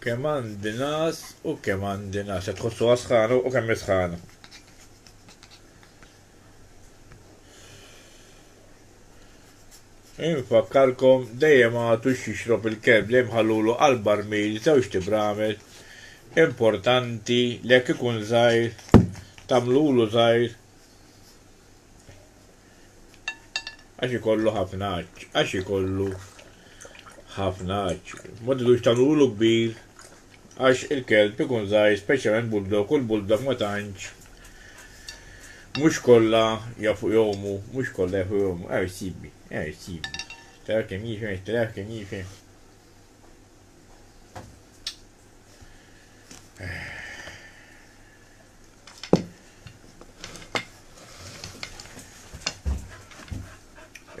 Kemm għandi nas u kemm għandi nas. Qed tħossu għasħana u kemm isħana. Infakkarkom dejjem għatu xixrob il-kelb li mħallulu għal-barmil żewġ tibramel importanti li jekk ikun żgħir tagħmlulu żgħir Għax ikollu ħafna għaġġ, għax ikollu ħafna għaġġ. Ma tidux tagħmlulu kbir għax il-kelb ikun żgħir speċjalment bulldog u l-bulldog ma tantx mhux kollha jafu jomu, mhux kollha jafu jomu, għar sibi, għar sibi. Tara kemm jifen, tara kemm jifen.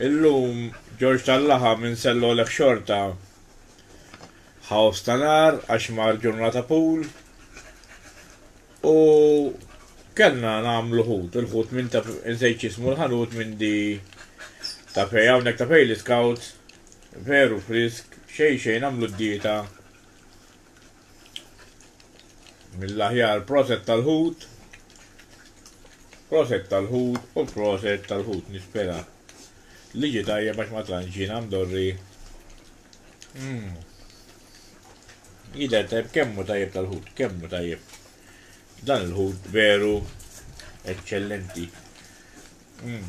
Illum Ġorġ tal-laħam insellolek xorta. Ħaws ta' nar għax mar ġurnata pool. U kellna nagħmlu ħut, il-ħut minn ta' insejt jismu l-ħanut minn di ta' fej hawnhekk ta' fej l-iskawt veru frisk xejn xejn għamlu d-dieta Mill aħjar proset tal ħut. Proset tal ħut u proset tal ħut nispera li ġi tajjeb għax ma tantx jiena mdorri. Mm. Jidher tajjeb kemmu tajjeb tal ħut, kemmu tajjeb. Dan il ħut veru eċċellenti. Mm.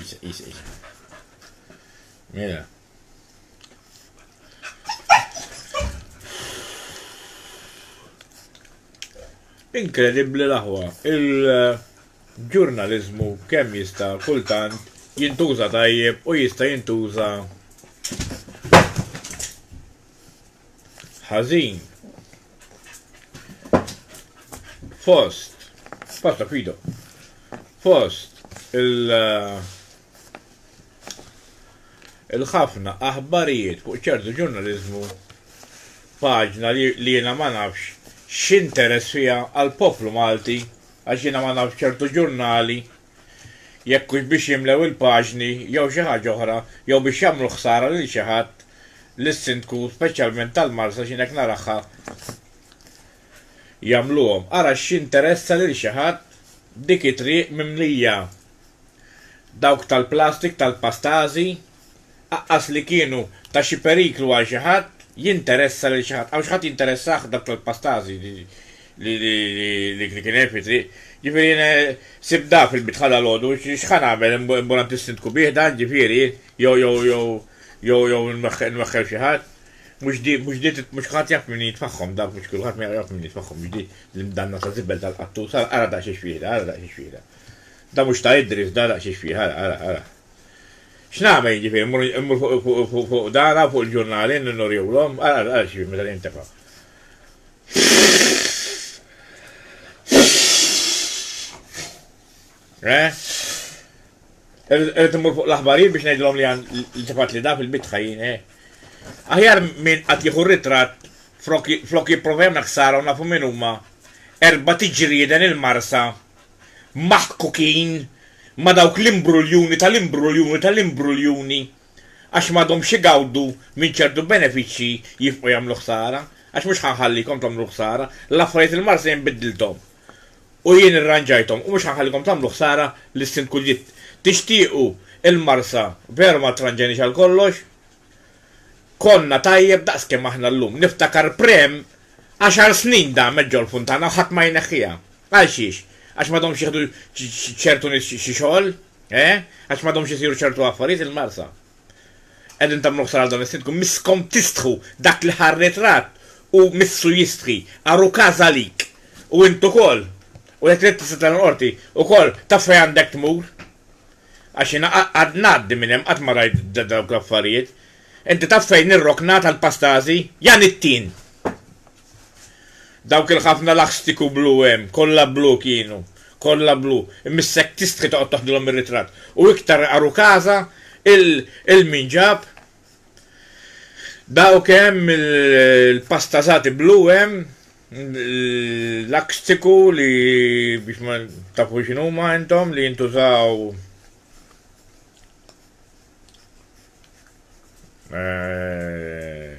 Isa, isa, isa. Mela. Inkredibbli l-aħwa, il-ġurnalizmu kemm jista' kultant jintuża tajjeb u jista' jintuża ħażin fost pasta fido fost il- eh, il-ħafna aħbarijiet fuq ċertu ġurnalizmu paġna li jiena ma nafx x'interess fiha għal poplu Malti għax jiena ma nafx ċertu ġurnali jekk hux biex jimlew il-paġni jew xi ħaġa oħra jew biex jagħmlu ħsara lil xi ħadd, lis-Sindku, speċjalment tal-Marsa x'jien hekk narahha jagħmluhom. Ara x'jinteressa lil xi ħadd dik it-triq mimlija dawk tal-plastik tal-pastażi aqqas li kienu ta' xi periklu għal xi ħadd, jinteressa lil xi ħadd. Hawn xi ħadd jinteressah dawk tal-pastażi li kien hemm fit-triq? Ġifieri jiena sibt da fil-bitħa dalgħodu, x'ħa nagħmel, immur għand is-Sindku bih dan, ġifieri, jew jew jew jew jew nweħħel xi ħadd? Mhux di mhux di mhux kulħadd jaf min jitfagħhom da, mhux kulħadd ma jaf min jitfagħhom, mhux di l-imdanna ta' żibel tal-qattus, ara ara daqs xiex fiha, ara daqs xiex fiha. Da mhux ta' Idris da daqs xiex fiha, ara ara ara. X'nagħmel jiġifieri? Mmur fuq dara, fuq il-ġurnali, nurihulhom? Ara x'jiġri meta jintefa'. Eh? Irrid immur fuq l-aħbarijiet biex ngħidilhom li li tefat li da fil-bitħa jien, eh? Aħjar minn qatt jieħu ritratt flok jipprova jagħmel ħsara u nafu min huma erba' tiġrieden il-marsa maħkukin ma' dawk l-imbruljuni tal-imbruljuni tal-imbruljuni għax m'għadhomx igawdu minn ċertu benefiċċji jifqu jagħmlu ħsara għax mhux ħa nħallikom tagħmlu l-ħsara l-affarijiet il-Marsa jien biddilthom u jien irranġajthom u mhux ħa nħallikom tagħmlu ħsara lis-Sindku li tixtiequ il-Marsa veru ma ttranġajniex għal kollox Konna tajjeb daqs kemm aħna llum. Niftakar Prem għaxar snin damet ġol Funtana u ħadd ma jneħħiha. Għal xiex? Għax ma domx jieħdu ċertu nies xi xogħol? Eh? Għax ma domx isiru ċertu affarijiet il-Marsa? Qegħdin tagħmlu ħsara għal dan is-Sindku. Misskom tistħu dak li ħa r-ritratt u missu jistħi. Ar hu każ għalik. U int ukoll. U jekk trid tista' tagħlaq l-Qorti. Ukoll taf fejn għandek tmur. Għax jiena qatt ngħaddi minn hemm qatt ma rajt dawk l-affarijiet. Inti taf fejn hi r-rokna tal-pastażi? Jan it-tin! Dawk il-ħafna laħstiku blu hemm, kollha blu kienu, kollha blu. Missek tistħi toqgħod toħdilhom ir-ritratt. U iktar għaru każa, il min ġab dawk hemm il-pastażati blu hemm. Lakstiku li biex ma tafu x'inhuma intom li jintużaw eh,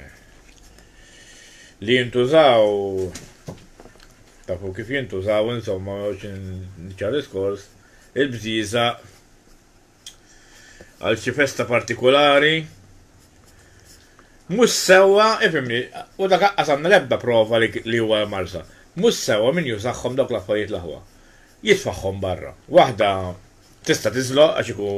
li jintużaw tafu kif jintużaw insomma biex nċar diskors il-bżiża għal xi festa partikolari. Mhux sewwa, ifimni, u dak aqqas għandna l-ebda prova li huwa marsa. Mhux sewwa min jużahom dawk l-affarijiet l-aħwa. Jitfagħhom barra. Waħda tista' tiżloq għax iku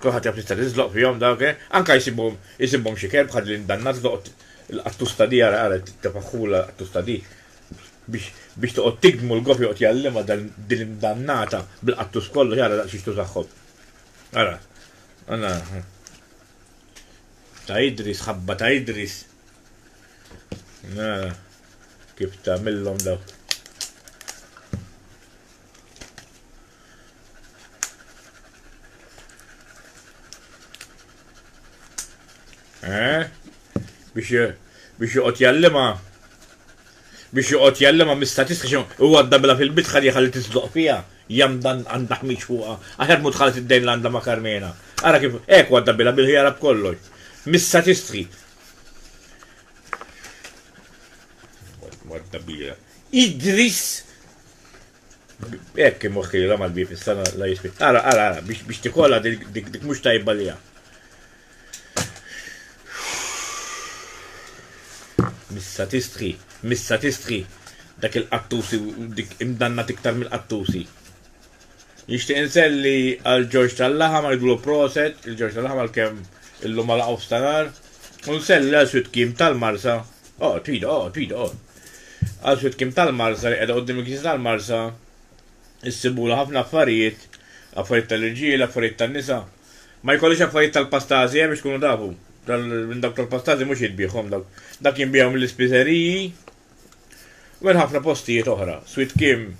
kulħadd jaf tista' tiżloq fihom dawk, eh? anka jsibhom jsibhom xi kelb ħad li ndanna tloqgħod il-qattusta di ara ara tifaħħula qattusta di. Biex toqgħod tikdm u l-gob joqgħod jgħallimha din l-imdannata bil-qattus kollox ara daqs xiex tużagħhom. Ara. Ara. Ta' Idris, ħabba ta' Idris. Ara. Kif tagħmilhom dawk. Eh? Biex biex joqgħod jallima biex joqgħod jallima mis-statistiċi u għadda bila fil-bit ħalli ħalli tisdoq fija jam dan għandha ħmiġ fuqha. Aħjar mut ħalet id-dejn l għandha ma' Karmena. Ara kif hekk għadda bila bil-ħjara b'kollox. Mis-statistiċi. Għadda bila. Idris Hekk kien moħħilha mal-bieb issa la jispit. Ara, ara, ara, biex tikolla dik mhux tajba li Missa tistħi, missa tistħi, dak il-qattusi dik imdanna tiktar mill-qattusi. Nixtieq inselli għal Ġorġ tal-Laħam u ngħidlu proset lil Ġorġ tal-Laħam għalkemm illum ma laqgħu f'stanar u nselli għal Switkim tal-Marsa, oqgħod fidi oqgħod fidi oqgħod, għal Switkim tal-Marsa li qiegħda quddiem il-Knisja tal-Marsa, issibulha ħafna affarijiet, affarijiet tal-irġiel, affarijiet tan-nisa. Ma jkollhiex affarijiet tal-pastażi hemm biex tkunu tafu, minn dawk tal-pastażi mhux jitbiegħhom dawk, dak jinbiegħu mill-ispiżeriji u minn ħafna postijiet oħra. Switkim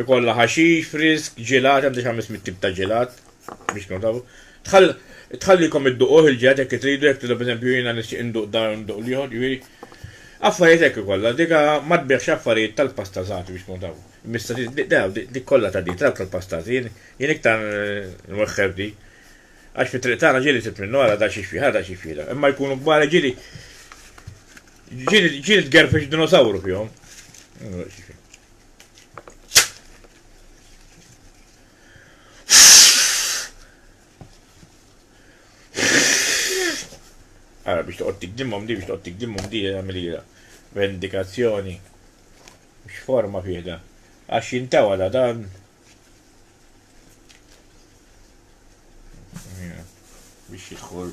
Ikollha ħaxix frisk, ġelat, għandi xi ħames mitt tip ta' ġelat biex tkunu tafu. Tħall tħallikom idduquh il-ġelat jekk tridu, jekk tridu pereżempju jiena nixtieq induq dan u nduq l-ieħor, jiġifieri affarijiet hekk ikollha. Dika ma tbigħx affarijiet tal-pastazati biex tkunu tafu. Mista daw dik kollha ta' di, dawk tal-pastati, jien jien iktar nwexxef di. Għax fit-triq tagħna ġieli sibt minnu ara da xi xfih, ara da xi xfih da. Imma jkunu kbar ġieli ġieli ġieli tgerfex dinosawru fihom. Ara biex toqgħod tikdimhom di biex toqgħod tikdimhom di għamilira. Vendikazzjoni. X'forma fih da? Għax jintawa da dan. Biex jidħol.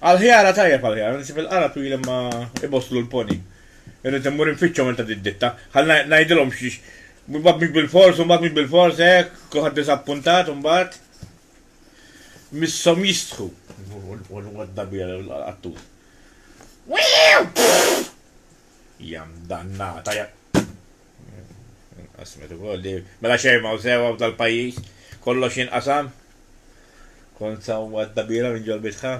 Għal-ħjara tajjeb għal-ħjara, nisib il-qara twil imma iboslu l-poni. Irrid immur infittxhom minn ta' ditta. Ħal ngħidilhom xiex. Mbagħad mhux bil-fors, mbagħad mhux bil-fors hekk, kulħadd diżappuntat mbagħad. Misshom jistħu. Wad dabija għattu. Jam dannata, jam. Inqasmet ukoll li mela xejn m'hawn sewwa f'dal-pajjiż, kollox jinqasam. Kont sewwa d-dabiela minn ġolbitha.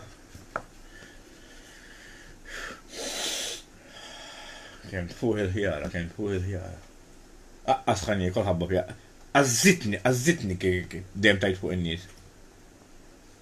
Kemm tfuħ il-ħjara, kemm tfuħ il-ħjara. Aqqas ħa niekol ħabba fija. Qażżitni, qażżitni kif dejjem tgħid fuq in-nies.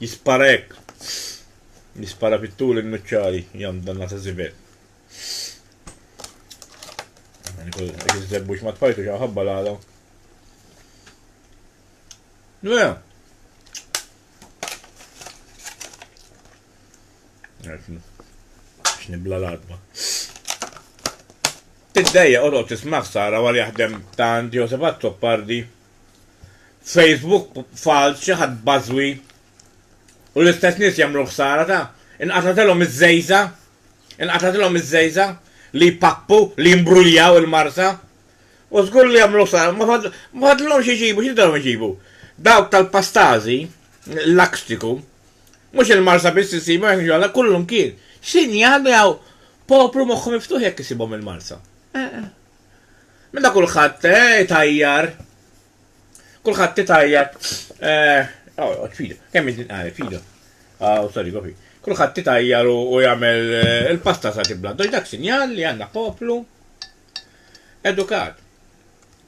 Jispara hekk. Jispara fit-tul in-nuċċali jamdanna ta' żibel. Jekk iż-żebbux ma tfajtux hawn ħabba l-għala. Mela. X'nibla l-adba. Tiddejja qodod tisma' ħsara wara jaħdem tant Joseph Azzopardi F'Facebook falz xi ħadd bażwi u l-istess nies jagħmlu ħsara ta' inqatgħetilhom iż-żgħiża', inqatgħetilhom iż-żgħiża' li jpappu, li jimbruljaw il-marsa. U żgur li jagħmlu ħsara, ma fadlilhomx iġibu, x'jidilhom iġibu? Dawk tal-pastażi, l-lakstiku, mhux il-marsa biss insibhom jekk niġu kullumkien. X'inhi għandu hawn poplu moħħu miftuħ jekk isibhom il-marsa? Meta kulħadd eh, itajjar. Kulħadd itajjar. Għawet, fidu, kemm inti nqaret, fidu. Għaw, sorry, gofi. Kulħadd itajjar u jagħmel eh, il-pasta sa tibla. Doġ dak sinjal li għandna poplu edukat.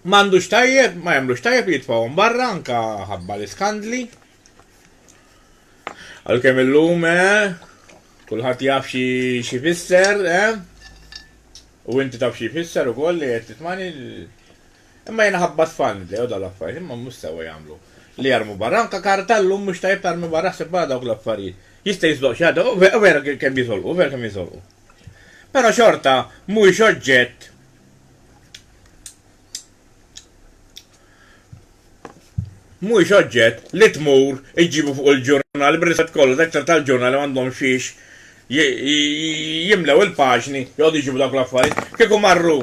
M'għandux tajjeb, ma jagħmlux tajjeb li jitfgħuhom barra anka ħabba l-iskandli. Għalkemm illum, eh? Kulħadd jaf xi xi fisser, eh? U inti taf xi fisser ukoll li qed titmani. Imma jiena ħabbat fan li jew dal-affarijiet, imma mhux sewwa jagħmlu. Li jarmu barra, anka karta llum mhux tajjeb tarmi barra ħseb barra dawk l-affarijiet. Jista' jiżloq xi ħadd, u ve- u vera kemm jiżolqu, u vera kemm jiżolqu. Però xorta mhuwiex oġġett mhuwiex oġġett li tmur iġġibu fuq il-ġurnal billi se tkollha section tal-ġurnal li m'għandhomx fiex jimlew il-paġni joqogħdu jġibu dawk l-affarijiet. Kieku marru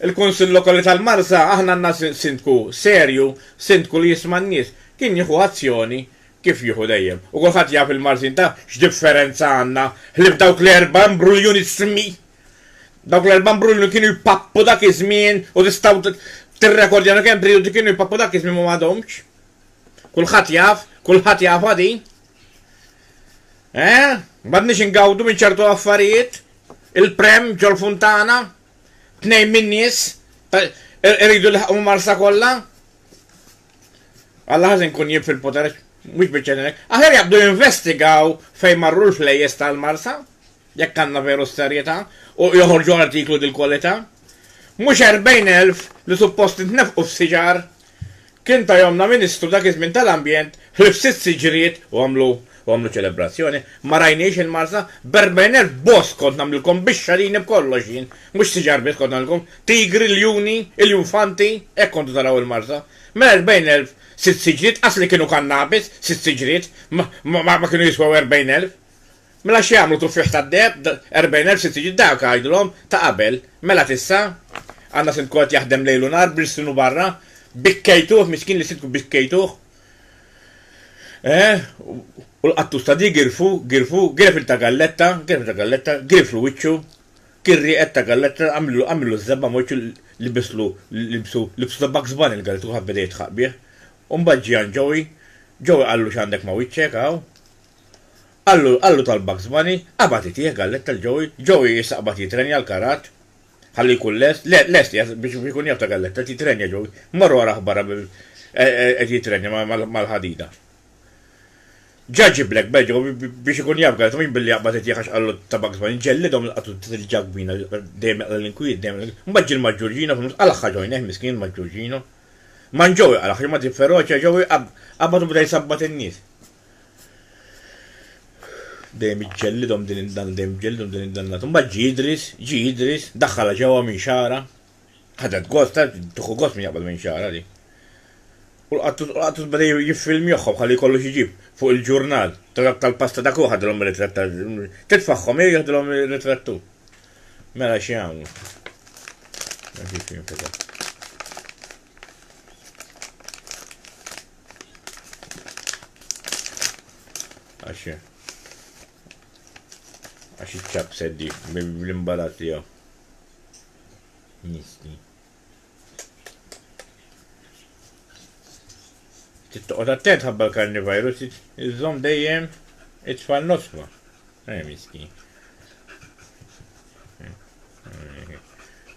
il-Kunsill Lokali tal-Marsa aħna għandna Sindku serju, Sindku li jisma' n-nies, kien jieħu azzjoni kif jieħu dejjem. U kulħadd jaf il-Marsin taf x'differenza għandna ħlief dawk l-erba' imbruljuni smi Dawk l-erba' mbrulli kienu jpappu dak iż-żmien u tistgħu tirrekordjanu kemm prijudi kienu jpappu dak iż-żmien ma m'għadhomx. Kulħadd jaf, kulħadd jafha din. Eh? M'għadniex ingawdu minn ċertu affarijiet, il-prem ġol-funtana, tnejn min-nies iridu jlaħqu marsa kollha. Alla ħażin kun jib fil-poter, mhux biċċa Aħjar jaqbdu jinvestigaw fejn marru l-flejjes tal-marsa. Jekk għandna veru s-serjetà u joħorġu artiklu dil-kwalità, mhux erbgħin elf li suppost intnefqu f'siġar kien tajhomna Ministru dak iż-żmien tal-Ambjent ħlief sitt siġriet u għamlu u għamlu ċelebrazzjoni. Ma rajnix il-Marsa b'erbgħin elf bosk kont nagħmlilkom bix-xalini b'kollox jien, mhux siġar biss kont nagħmlilkom, tigri, ljuni, iljufanti, hekk kontu taraw il-Marsa. Mela erbgħin elf sitt siġriet qas li kienu kannabis sitt siġriet ma kienu jiswew erbgħin elf Mela x'jagħmlu tuffieħ tad-deheb, erbgħin elf sitt jiġi dak, għidlhom, ta' qabel, mela t'issa? Għandna sindku qed jaħdem lejl u nhar b'lsnu barra, bikkejtuh, miskin li sindku bikkejtuh, eeh, u l-qattus ta' di girfu, girfu, giref il ta' galletta, giref il ta' galletta, giriflu wiċċu, kien rieqed ta' galletta, għamillu, għamillu ż-żebba ma' wiċċu, libislu, libsu, libsu ta' Bugs Bunny l-galletta kulħadd beda jidħaq bih. U mbagħad ġie għand Joey, Joey qallu x'għandek ma' wiċċek hawn? Qallu, qallu tal Bugs Bunny, Qabad itih, galletta l Joey. Joey issa qbad jitrenja l-karrat. Ħallu jkun lest. Le, lest qiegħed biex biex ikun jaf ta' galletta, qed jitrenja Joey. Morru arah barra b' qed jitrenja ma' ma' mal-ħadida. Ġa ġie Black Bear ġewwa b' biex ikun jaf galletta, mhux billi jaqbad itih għax qallu ta' Bugs Bunny. Ġellidhom il-qatun ta' dil ġakbina, dejjem jaqla' l-inkwiet, dejjem jaqla' l-inkwiet. Mbagħad ġie l-Maġġurġino fin-nofs, qalagħha Joey, neh miskien il-Maġġurġino. Man Joey qalagħha, xi ma' din feroċja Joey qab qabad u beda jsabbat in-nies. Dejjem iġġellidhom din id-dan, dejjem iġġellidhom din id-dannat. Imbagħad ġie Idris, ġie Idris, daħħalha ġewwa minn xagħra. Ħadet gost, ta' tuħu gost minn jaqbad minn xagħra di. U l-qattus, u l-qattus beda jiffilmjoħħom ħalli jkollu x'jġib fuq il-ġurnal. Ta' dak tal-pasta dak hu ħadilhom ir-ritratt ta' titfagħhom jew jiħdilhom ir-ritratt hu. Mela xi jagħmlu? Ma kienx jinfetaħ. Għax għax iċċab seddi bl-imbalat tiegħu. Misti. Tittoqgħod attent ħabba l-karnivirus iżżomm dejjem it-tfal nosfa. Ej misti.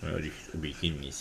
Ma rix u bik in-nies.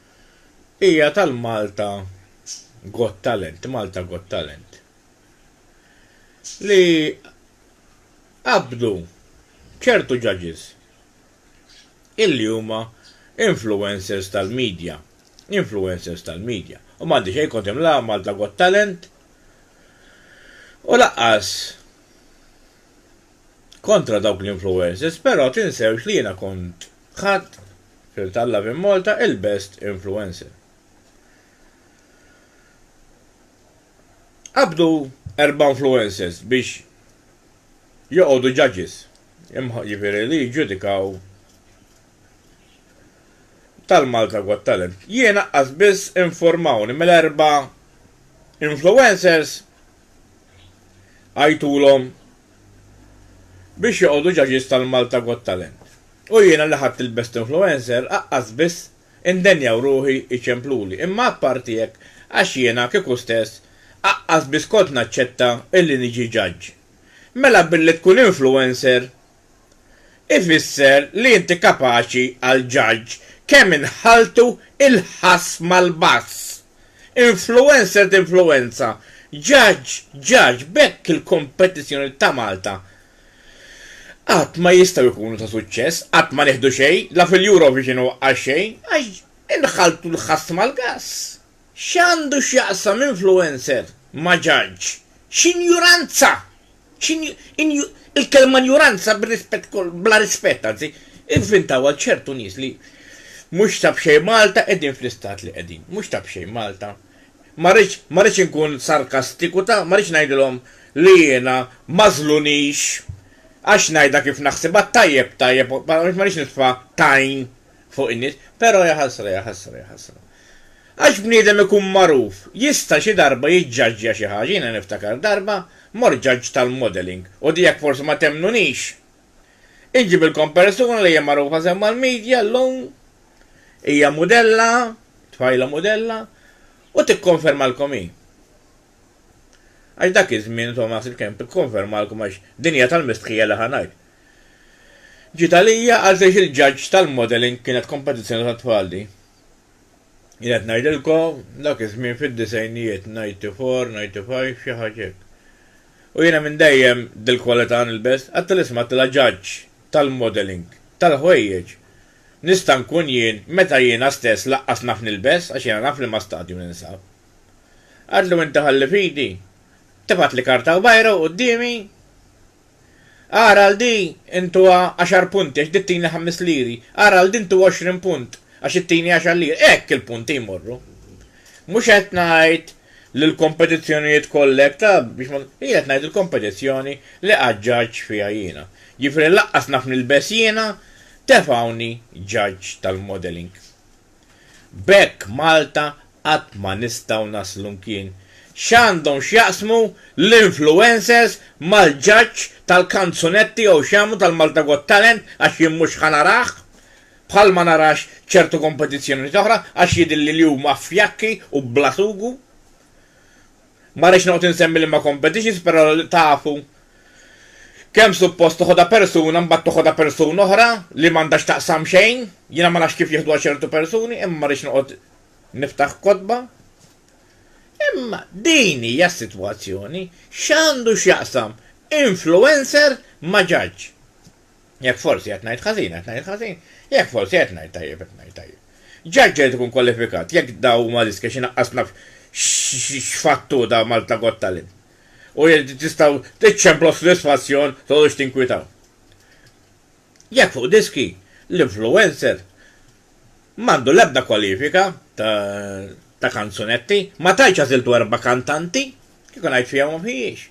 hija tal-Malta Got Talent, Malta Got Talent, li qabdu ċertu judges illi huma influencers tal-media, influencers tal-media. U m'għandi xejn kontem la Malta Got Talent u laqqas kontra dawk l-influencers, però tinsewx li jiena kont Ħadd fil Tallave in Malta il best influencer. Qabdu erba' influencers biex joqogħdu judges, jiġifieri li jiġġudikaw tal Malta Got Talent. Jien aqqas biss informawni mill erba' influencers għajtulhom biex joqogħdu judges tal-Malta Got Talent u jiena li ħadt il-Best Influencer aqqas biss indenja u ruħi jċempluli imma apparti hekk għax jiena kieku stess aqqas biss kont naċċetta illi niġi judge mela billi tkun influencer ifisser li inti kapaċi għal judge kemm inħalltu il-ħass mal-bass! Influencer tinfluwenza, judge judge b'hekk il-kompetizzjoni ta' Malta qatt ma jistgħu jkunu ta' suċċess, qatt ma nieħdu xejn, la fil-Eurovision u għal xejn, għax inħalltu l-ħass mal-gass. X'għandu x'jaqsam influencer ma' judge? X'injuranza! X'in, in, il-kelma injuranza bir-rispett kollu, bla rispett anzi, ivvintawha ċertu nies li mhux ta' b'xejn Malta qegħdin fl-istat li qegħdin. Mhux ta' b'xejn Malta. Ma rridx, ma rridx inkun sarkastiku ta', ma rridx ngħidilhom li jiena ma żlunix għax ngħidha kif naħsibha, tajjeb, tajjeb, ma rridx nitfa' tajn fuq in-nies, però ja ħasra, ja ħasra, ja ħasra. Għax bniedem ikun magħruf, jista' xi darba jiġġaġġja xi ħaġa, jiena niftakar darba mort ġaġġ tal-modelling u di jekk forsi ma temmnunix, inġibilkom persuna li hija magħrufa sew mal-media llum, hija mudella, tfajla mudella, u tikkonfermalkom hi. Għax dak iż-żmien insomma naħseb kemm tikkonfermalkom għax din hija tal-mistħija li ħa ngħid. Ġiet għalija għalfejx il-judge tal-modelling kienet kompetizzjoni tat-tfal di. Jien qed ngħidilkom dak iż-żmien fid-disgħinijiet, 94, 95, xi ħaġa hekk. U jiena minn dejjem dil-kwalità nilbes, għad tal-isem għad la judge tal-modelling, tal-ħwejjeġ nista' nkun jien meta jiena stess laqqas naf nilbes għax jiena naf f'liema stadju ninsab. Għadlu inti ħalli f'idi, tibgħatli karta u bajra u quddiemi? Agħar għal di intuha għaxar punti għax di tini ħames liri. Agħar għal di ntuha għoxrin punt għax it-tieni għaxar liri. Hekk il-punti jmorru. Mhux qed ngħid li l-kompetizzjonijiet kollha hekk ta' biex ma Jien qed ngħid il-kompetizzjoni li qatt ġaġġ fiha jiena. Jiġifieri lanqas naf nilbes jiena tefgħuni ġaġġ tal-modelling. B'hekk Malta qatt ma nistgħu naslu mkien. X'għandhom x'jaqsmu l-influencers mal-ġaġġ tal-kanzunetti jew x'jagħmlu tal-Malta Got Talent għax jien mhux ħa narah? Bħal ma narax ċertu kompetizzjonijiet oħra għax jidhirli li huma fjakki u bla sugu. Ma rridx noqgħod insemmi liema competitions però tafu kemm suppost toħodha persuna mbagħad toħodha persuna oħra li m'għandha x'taqsam xejn, jiena ma nafx kif jieħduha ċertu persuni imma ma rridx noqgħod niftaħ kotba. Imma din hija s-sitwazzjoni, x'għandu x'jaqsam influencer ma' ġaġġ? Jekk forsi qed ngħid ħażin, qed ngħid ħażin. Jekk forsi qed ngħid tajjeb, qed ngħid tajjeb. Ġaġġ irid ikun kwalifikat jekk dawn huma riskji għax inaqqas naf x'fattur ta' Malta Got Talent. U jekk tistgħu tiċċemplu s-sodisfazzjon tqogħdux tinkwitaw. Jekk fuq diski, l-influencer m'għandu l-ebda kwalifika ta' kanzunetti, ma tantx għażiltu erba' kantanti, kieku ngħid fija u ma fijiex.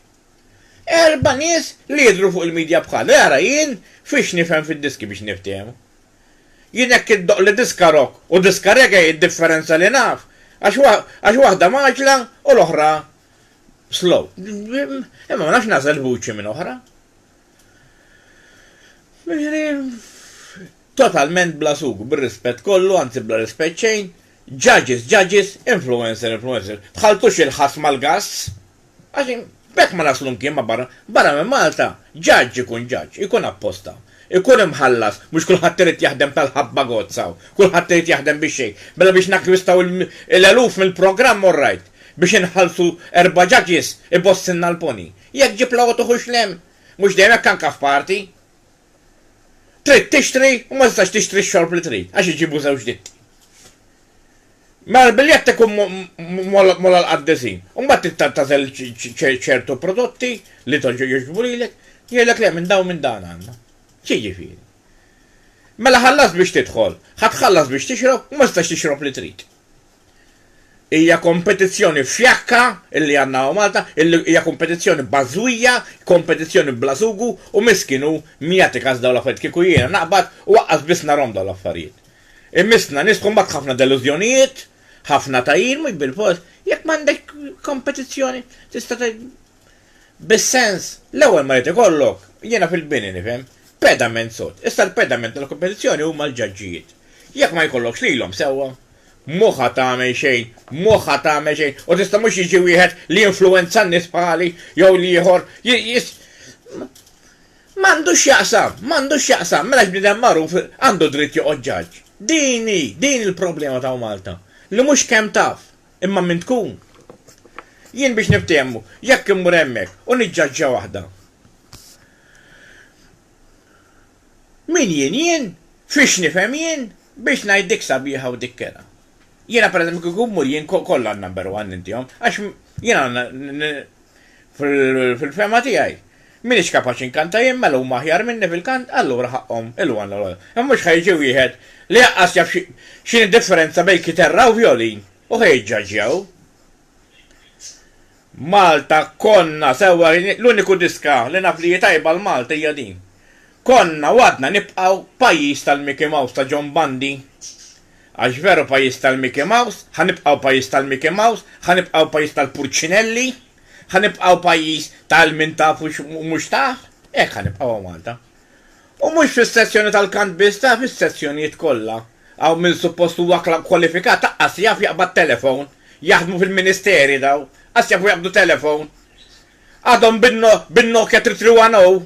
Erba' nies li jidhru fuq il-media bħali, ara jien fiex nifhem fid-diski biex niftehmu. Jien hekk iddoqqli diska rock u diska reggae hi d-differenza li naf, għax waħda mgħaġġla u l-oħra slow. Imma ma nafx nagħżel vuċi minn oħra. Jiġifieri, totalment bla sugu, bir-rispett kollu, anzi bla rispett xejn, judge is judge is, influencer influencer, tħalltux il-ħass mal-gass! Għax b'hekk ma naslu mkien ma' barra. Barra minn Malta, ġaġġ ikun ġaġġ, ikun apposta, ikun imħallas, mhux kulħadd irid jaħdem tal-ħabba gozza hawn, kulħadd irid jaħdem bix-xejn. Mela biex nakkwistaw l-eluf mill-programm all right, biex inħallsu erba' judges ibossilna l-pony. Jekk ġib l-għoti ħu xlemm! Mhux dejjem hekk anke f'parti. Trid tixtri u ma tistax tixtri x-xorb li trid għax iġibu żewġ ditti. Mela l-biljett ikun mogħloq għall-qaddisin. Imbagħad trid tagħżel ċertu prodotti li jogħġbu lilek, jgħidlek le minn dawn minn dan għandna. X'jiġifieri? Mela ħallast biex tidħol, ħa tħallas biex tixrob u ma tistax tixrob li trid. Hija kompetizzjoni fjakka li għandna hawn Malta, hija kompetizzjoni bażwija, kompetizzjoni bla sugu u miskin hu min jagħti kas dawn l-affarijiet. Kieku jiena naqbad u aqqas biss narhom dawn l-affarijiet. Immissna nisħu mbagħad ħafna delużjonijiet, ħafna tgħajjir mhux bil-fors. Jekk m'għandek kompetizzjoni tista' tgħid bis-sens, l-ewwel ma jrid ikollok, jiena fil-bini nifhem, pedament sod. Issa l-pedament tal-kompetizzjoni huma l-ġaġġijiet. Jekk ma jkollokx lilhom sewwa, mhu ħa tagħmel xejn, mhu ħa tagħmel xejn u tista' mhux jiġi wieħed li jinfluwenza n-nies bħali jew l-ieħor, M'għandu x'jaqsam, m'għandu x'jaqsam, mela x'bniedem magħruf għandu dritt joqgħod ġaġġ? Din hi, din il-problema t'hawn Malta, li mhux kemm taf, imma min tkun. Jien biex niftiehmu, jekk immur hemmhekk u niġġaġġa waħda, min jien jien, fiex nifhem jien, biex ngħid dik sabiħa u dik kerha? Jiena pereżempju kieku mmur jien kollha għand number one nintihom għax jiena fil-fehma tiegħi m'iniex kapaċi nkanta jien mela huma aħjar minni fil-kant allura ħaqqhom il-one u l-other. Imma mhux ħa jiġi wieħed li aqqas jaf x'inhi d-differenza bejn kiterra u vjolin u ħa jiġġaġġjaw. Malta konna sewwa l-uniku diska li naf li hi tajba għal Malta hija din. Konna u għadna nibqgħu pajjiż tal-Mickey Mouse ta' John Bundy. Għax veru pajjiż tal-Mickey Mouse, ħa nibqgħu pajjiż tal-Mickey Mouse, ħa nibqgħu pajjiż tal-purċinelli, ħa nibqgħu pajjiż tal-min taf u mhux taf, hekk ħa nibqgħu a Malta. U mhux fis-sezzjoni tal-kant biss, taf, is-sezzjonijiet kollha. Hawn min suppost huwa kwalifikat aqqas jaf jaqbad telefown. Jaħdmu fil-ministeri daw, qas jafu jaqbdu telefown. Għadhom bin-Nokia 3310.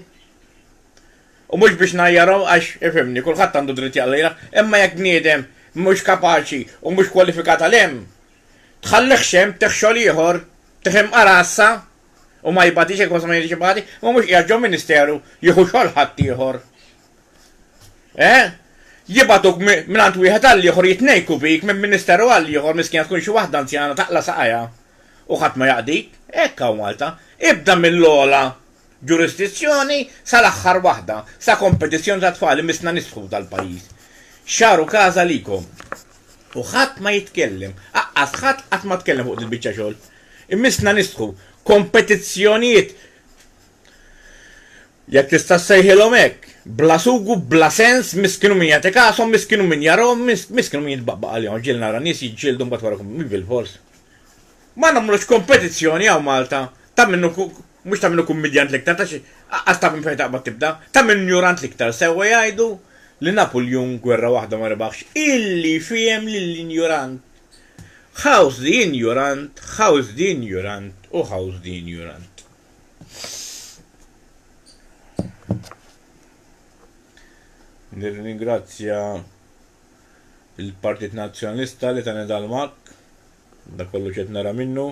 U mhux biex ngħajjarhom għax, ifhimni, kulħadd għandu dritt jgħajjar, imma jekk bniedem mhux kapaċi u mhux kwalifikat għal hemm, tħallihx hemm, tih xogħol ieħor, tih imqar għassa. u ma jibgħatix il-konsma ma jiġix ibati, imma mhux qiegħed ġo ministeru jieħu xogħol ħaddieħor. Eh? Jibgħatuk mingħand wieħed għal ieħor jitnejku bik minn ministeru għal ieħor miskina tkun xi waħda anzjana taqla' saqajha u ħadd ma jaqdik. Hekk hawn Malta. Ibda mill-ogħla ġurisdizzjoni sal-aħħar waħda, sa kompetizzjoni ta' tfal imissna nisħu dal-pajjiż. Xaru casa likom. U ħadd ma jitkellem. Aqqas ħadd qatt ma tkellem fuq dil-biċċa xogħol. Imissna nistħu kompetizzjonijiet, jekk tista' ssejħilhom hekk, bla sugu, bla sens, miss kienu min jagħtik għashom, miss kienu min jarahom, miss kienu min jitbaqbaq għalihom għax ġieli nara nies jiġġieldu mbagħad wara jkun bilfors. Ma nagħmlux kompetizzjoni hawn Malta ta' min hu mhux ta' min hu kummidjant l-iktar ta' xi aqqas ta' min fejn taqbad tibda, ta' min njurant l-iktar. Sewwa jgħidu li Napuljun gwerra waħda ma rebaħx illi fiehem lill-injurant. House the injurant, house the injurant u house the injurant. Nirringrazzja il-Partit Nazzjonalista li tani dal-mak, da kollu ċet nara minnu.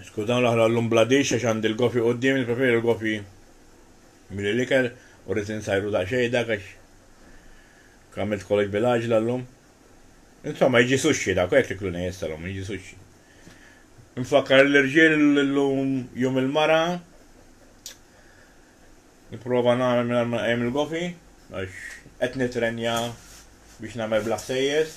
Skur dawn l-aħħar għallum bla dix għax għandi l-gofji quddiemi, nippreferi l-gofji milli l-ikel u rrid insajru daqsxejn dak għax għamilt kollox bil-għaġla llum. Insomma, jiġi sushi dak u hekk tikluni issa llum, jiġi sushi. Infakkar lill-irġiel li llum Jum il-Mara. Nipprova nagħmel mingħajr ma nqajjem il-gofji għax qed nittrenja biex nagħmel bla ħsejjes.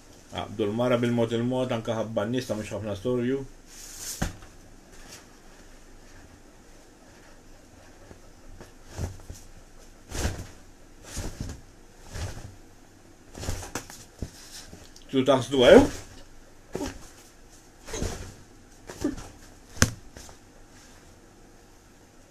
Għaqdu l-mara bil-mod il-mod anke ħabba n-nies ta' mhux ħafna storju. Tu taħsdu għew? Eh?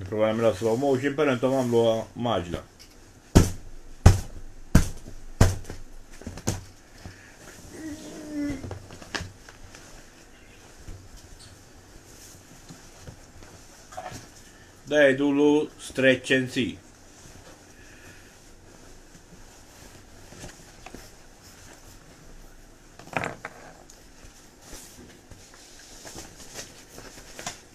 Nipprova nagħmilha slow motion, però intom għamluha maġla. Da jgħidulu stretch and see.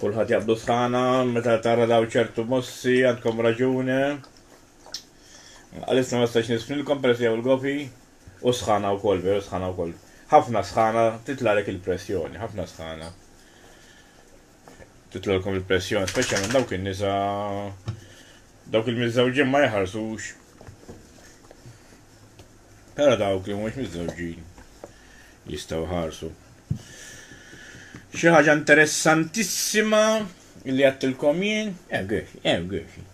Kulħadd jaqblu sħana meta tara daw ċertu mossi għandkom raġune. Għalissa ma stax nisfnilkom peress jew il-gofi u sħana wkoll, veru sħana wkoll. Ħafna sħana titlalek il-pressjoni, ħafna sħana. titlolkom il-pressjoni, speċjalment dawk in-nisa dawk il-miżżewġin ma jħarsux. Però dawk li mhux miżżewġin jistgħu ħarsu. Xi ħaġa interessantissima li għattilkom jien, hemm eh, għex, hemm eh, għex. Eh.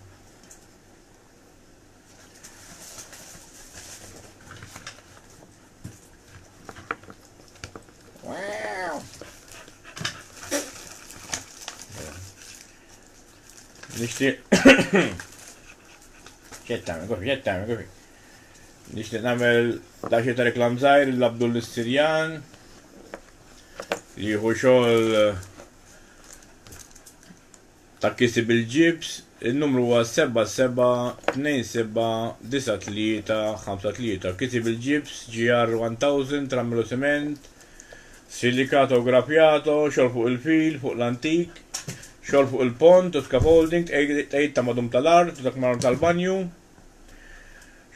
Nixtieq. Xed tagħmel, kofi, xed tagħmel, kofi. Nixtieq nagħmel daxi ta' reklam żgħir l-Abdul Nistirjan li jieħu xogħol eh, Ta' kiseb il-ġibs, in-numru huwa 77279353. Kiseb il-ġibs GR1000 trammilu siment, silicato graffiato, xogħol fuq il-fil, fuq l-antik, xogħol fuq il-pont u scaffolding, tqegħid ta' madum tal-art u dak mar-art tal-banju,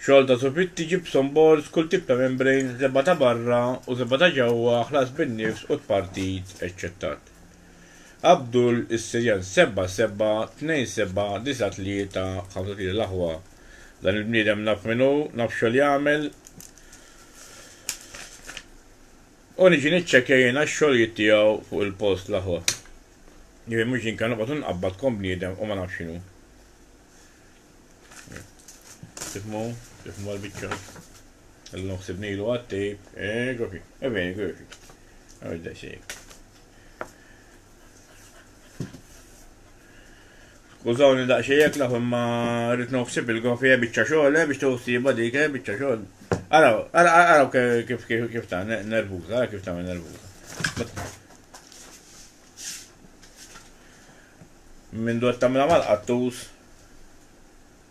xogħol ta' sufitti, gypsum boards, kull tip ta' membrane, żebgħa ta' barra u żebgħa ta' ġewwa, ħlas bin-nifs u tpartit, eċċettat. Abdul is-serjal 7 7 2 7 9 3 5 3 L-aħwa Dan il-bniedem naf min hu, naf xogħol jagħmel u niġi niċċekkja jien għax-xogħlijiet tiegħu fuq il-post l-aħwa. Jiġifieri mhux jien kan noqgħod inqabbad kon bniedem u ma nafx x'inhu. Tifmu, tifmu għal-bicċa. Għallum xsibnilu għattib, e gofi, e veni gofi. Għawid da xejk. Skużawni daqsxejn jekk naf imma rrid nofsib il-kofija eh, biċċa xogħol eh, biex tewsiba dik eh, biċċa xogħol. Araw, araw kif kif ta' nervuża, ara kif tagħmel nervuża. Minn dwar tagħmilha mal-qattus.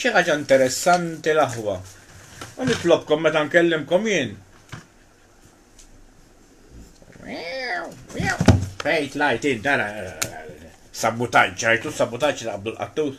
xi ħaġa interessanti l-aħwa. U nitlobkom meta nkellimkom jien. Fejt lajt id dara sabutaġġ, ġajtu sabutaġġ li qabdu l-qattus.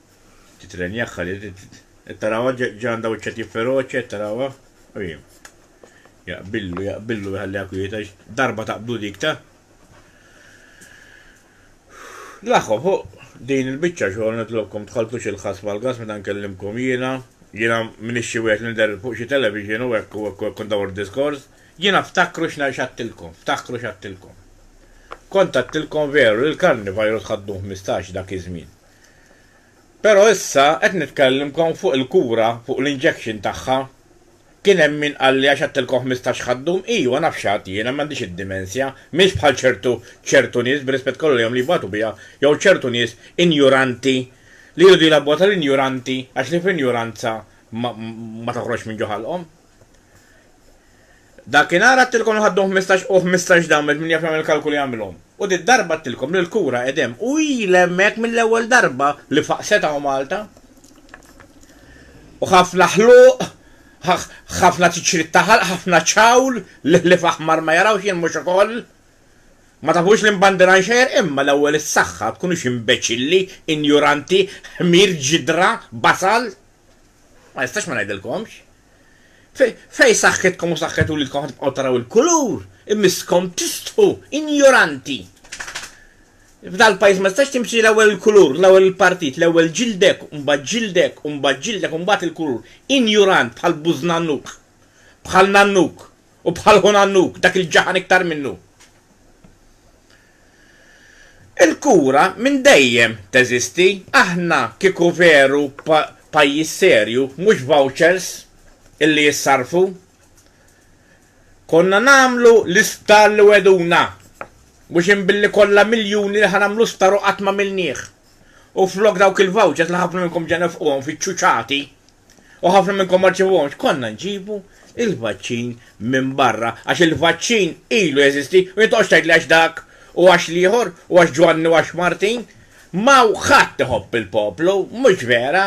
Titrenjakha di, qed tarawha ġandha wiċċha tifferoċja, qed tarawha? U hi. Jaqbillu, jaqbillu jħalliha kwieta għax darba taqbdu dik ta'. L-aħħom, hu, din il-biċċa xogħol nitlobkom tħalltux il-ħass mal-gass meta nkellimkom jiena, jiena m'iniex xi wieħed li nidher fuq xi television u hekk u hekk u hekk u ndawwar diskors, jiena ftakru x'għattilkom, ftakru x'għattilkom. Kont għattilkom veru li l-carnivirus ħadduh ħmistax dak iż-żmien. Però issa qed nitkellimkom fuq il-kura, fuq l-injection tagħha. Kien hemm min qalli għax għedtilkom ħmistax ħadd dum, ijwa naf x'għadt jiena, m'għandix id-dimensja, m'iniex bħal ċertu, ċertu nies, bir-rispett kollu lejhom li jibgħatu biha, jew ċertu nies injuranti, li jridu jilgħabuha tal-injuranti għax li fl-injuranza ma toħroġx minn ġo ħalqhom. Dakinhar għadtilkom li ħaddu ħmistax u ħmistax damel, min jaf jagħmel il-kalkoli jagħmilhom. U did-darba għadtilkom li l-kura qed hemm u ilha hemmhekk mill-ewwel darba li faqset hawn Malta. U ħafna ħluq, ħafna tiċrit ta' ħalq, ħafna ċawl, l-ħlief aħmar ma jarawx jien mhux ukoll? Ma tafux li mbandiran xejn? Imma l-ewwel is-saħħa, tkunux imbeċilli, injuranti, ħmir, ġidra, basal! Ma nistax ma ngħidilkomx. Fejn saħħitkom u saħħet uliedkom ħa tibqgħu taraw il-kulur, imisskom tistħu, injoranti! F'dal-pajjiż ma tistax timxi l-ewwel il-kulur, l-ewwel il-partit, l-ewwel ġildek, u mbagħad ġildek, u mbagħad ġildek, u mbagħad il-kulur. Injurant bħal bużnannuk, bħal nannuk, u bħal ħunannuk, dak il-ġaħan iktar minnu! Il-kura minn dejjem teżisti. Aħna kieku veru pajjiż serju, mhux vouchers illi jissarrfu, konna nagħmlu l-isptar li wegħduna. Mhux inbilli kollha miljuni li ħa nagħmlu sptar u qatt m'għamilnieh. U flok dawk il-vouchers li ħafna minnkom ġa nefquhom fiċ-ċuċati u ħafna minnkom ma rċevuhomx, konna nġibu il-vaċċin minn barra għax il-vaċċin ilu jeżisti u jintoqgħodx tgħidli għax dak u għax l-ieħor u għax Ġwanni u għax Martin. M'hawn ħadd iħobb il-poplu, mhux vera.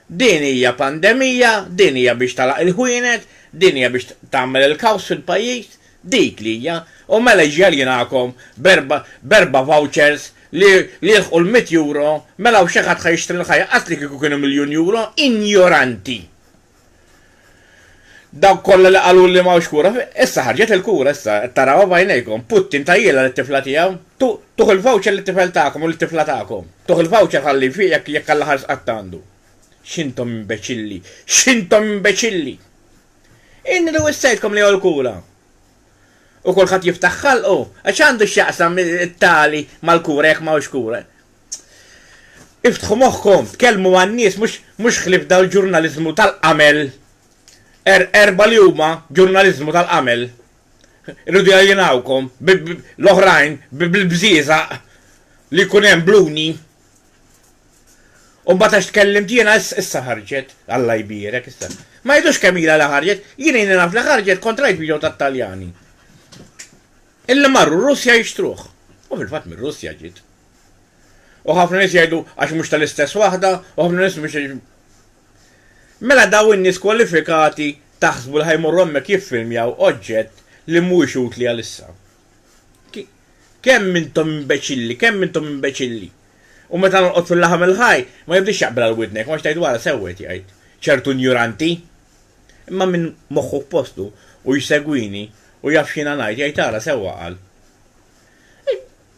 Din hija pandemija, din hija biex tagħlaq il-ħwienet, din hija biex tagħmel il-kaws fil-pajjiż. Dik li hija, u mela jiġi aljenahom b'erba' b'erba' vouchers li li jilħqu l-mitt euro, mela hawn xi ħadd ħa jixtri l-ħajja qas li kieku kienu miljun euro? Injoranti! Dawk kollha li qaluli li m'hawnx kura, issa ħarġet il-kura issa, qed tarawha b'għajnejkom, Putin tajjielha lit-tifla tiegħu, tu tuh il-voucher lit-tifel tagħkom u lit-tifla tagħkom. Tuh il-voucher ħalli jfieq jekk jekk għall-aħħar sqatt għandu. X'intom imbeċilli! X'intom imbeċilli! Inni li wissejtkom li hu l-kura. U kulħadd jiftaħ ħalqu, għax x'għandu x'jaqsam it-tali mal-kura jekk ma hux kura? Iftħu moħħkom, tkellmu man-nies mhux mhux ħlief dal-ġurnaliżmu tal-qamel. Er erba' li huma ġurnaliżmu tal-qamel. Irridu jaljenawkom bi bi l-oħrajn bi bil-bżieżaq li jkun hemm bluni. U mbagħad għax tkellimt jiena issa ħarġet, Alla jbierek issa. Ma jidux kemm ilha li ħarġet, jien ilni naf li ħarġet kontra id-video tat-Taljani. Illi marru r-Russja jixtruh. U fil-fatt mir-Russja ġiet. U ħafna nies jgħidu għax mhux tal-istess waħda, u ħafna nies mhux Mela daw in-nies kwalifikati taħsbu li ħajmorru hemmhekk jiffilmjaw oġġett li mhuwiex utli għalissa. Kemm intom imbeċilli, kemm intom imbeċilli! U meta norqod fil-laħam il-ħaj, ma jibdiex jaqbel għal widnek, għax tgħid wara sew qed jgħid, ċertu injuranti! Imma min moħħu f'postu u jsegwini u jaf x'jiena ngħid jgħid ara sewwa qal.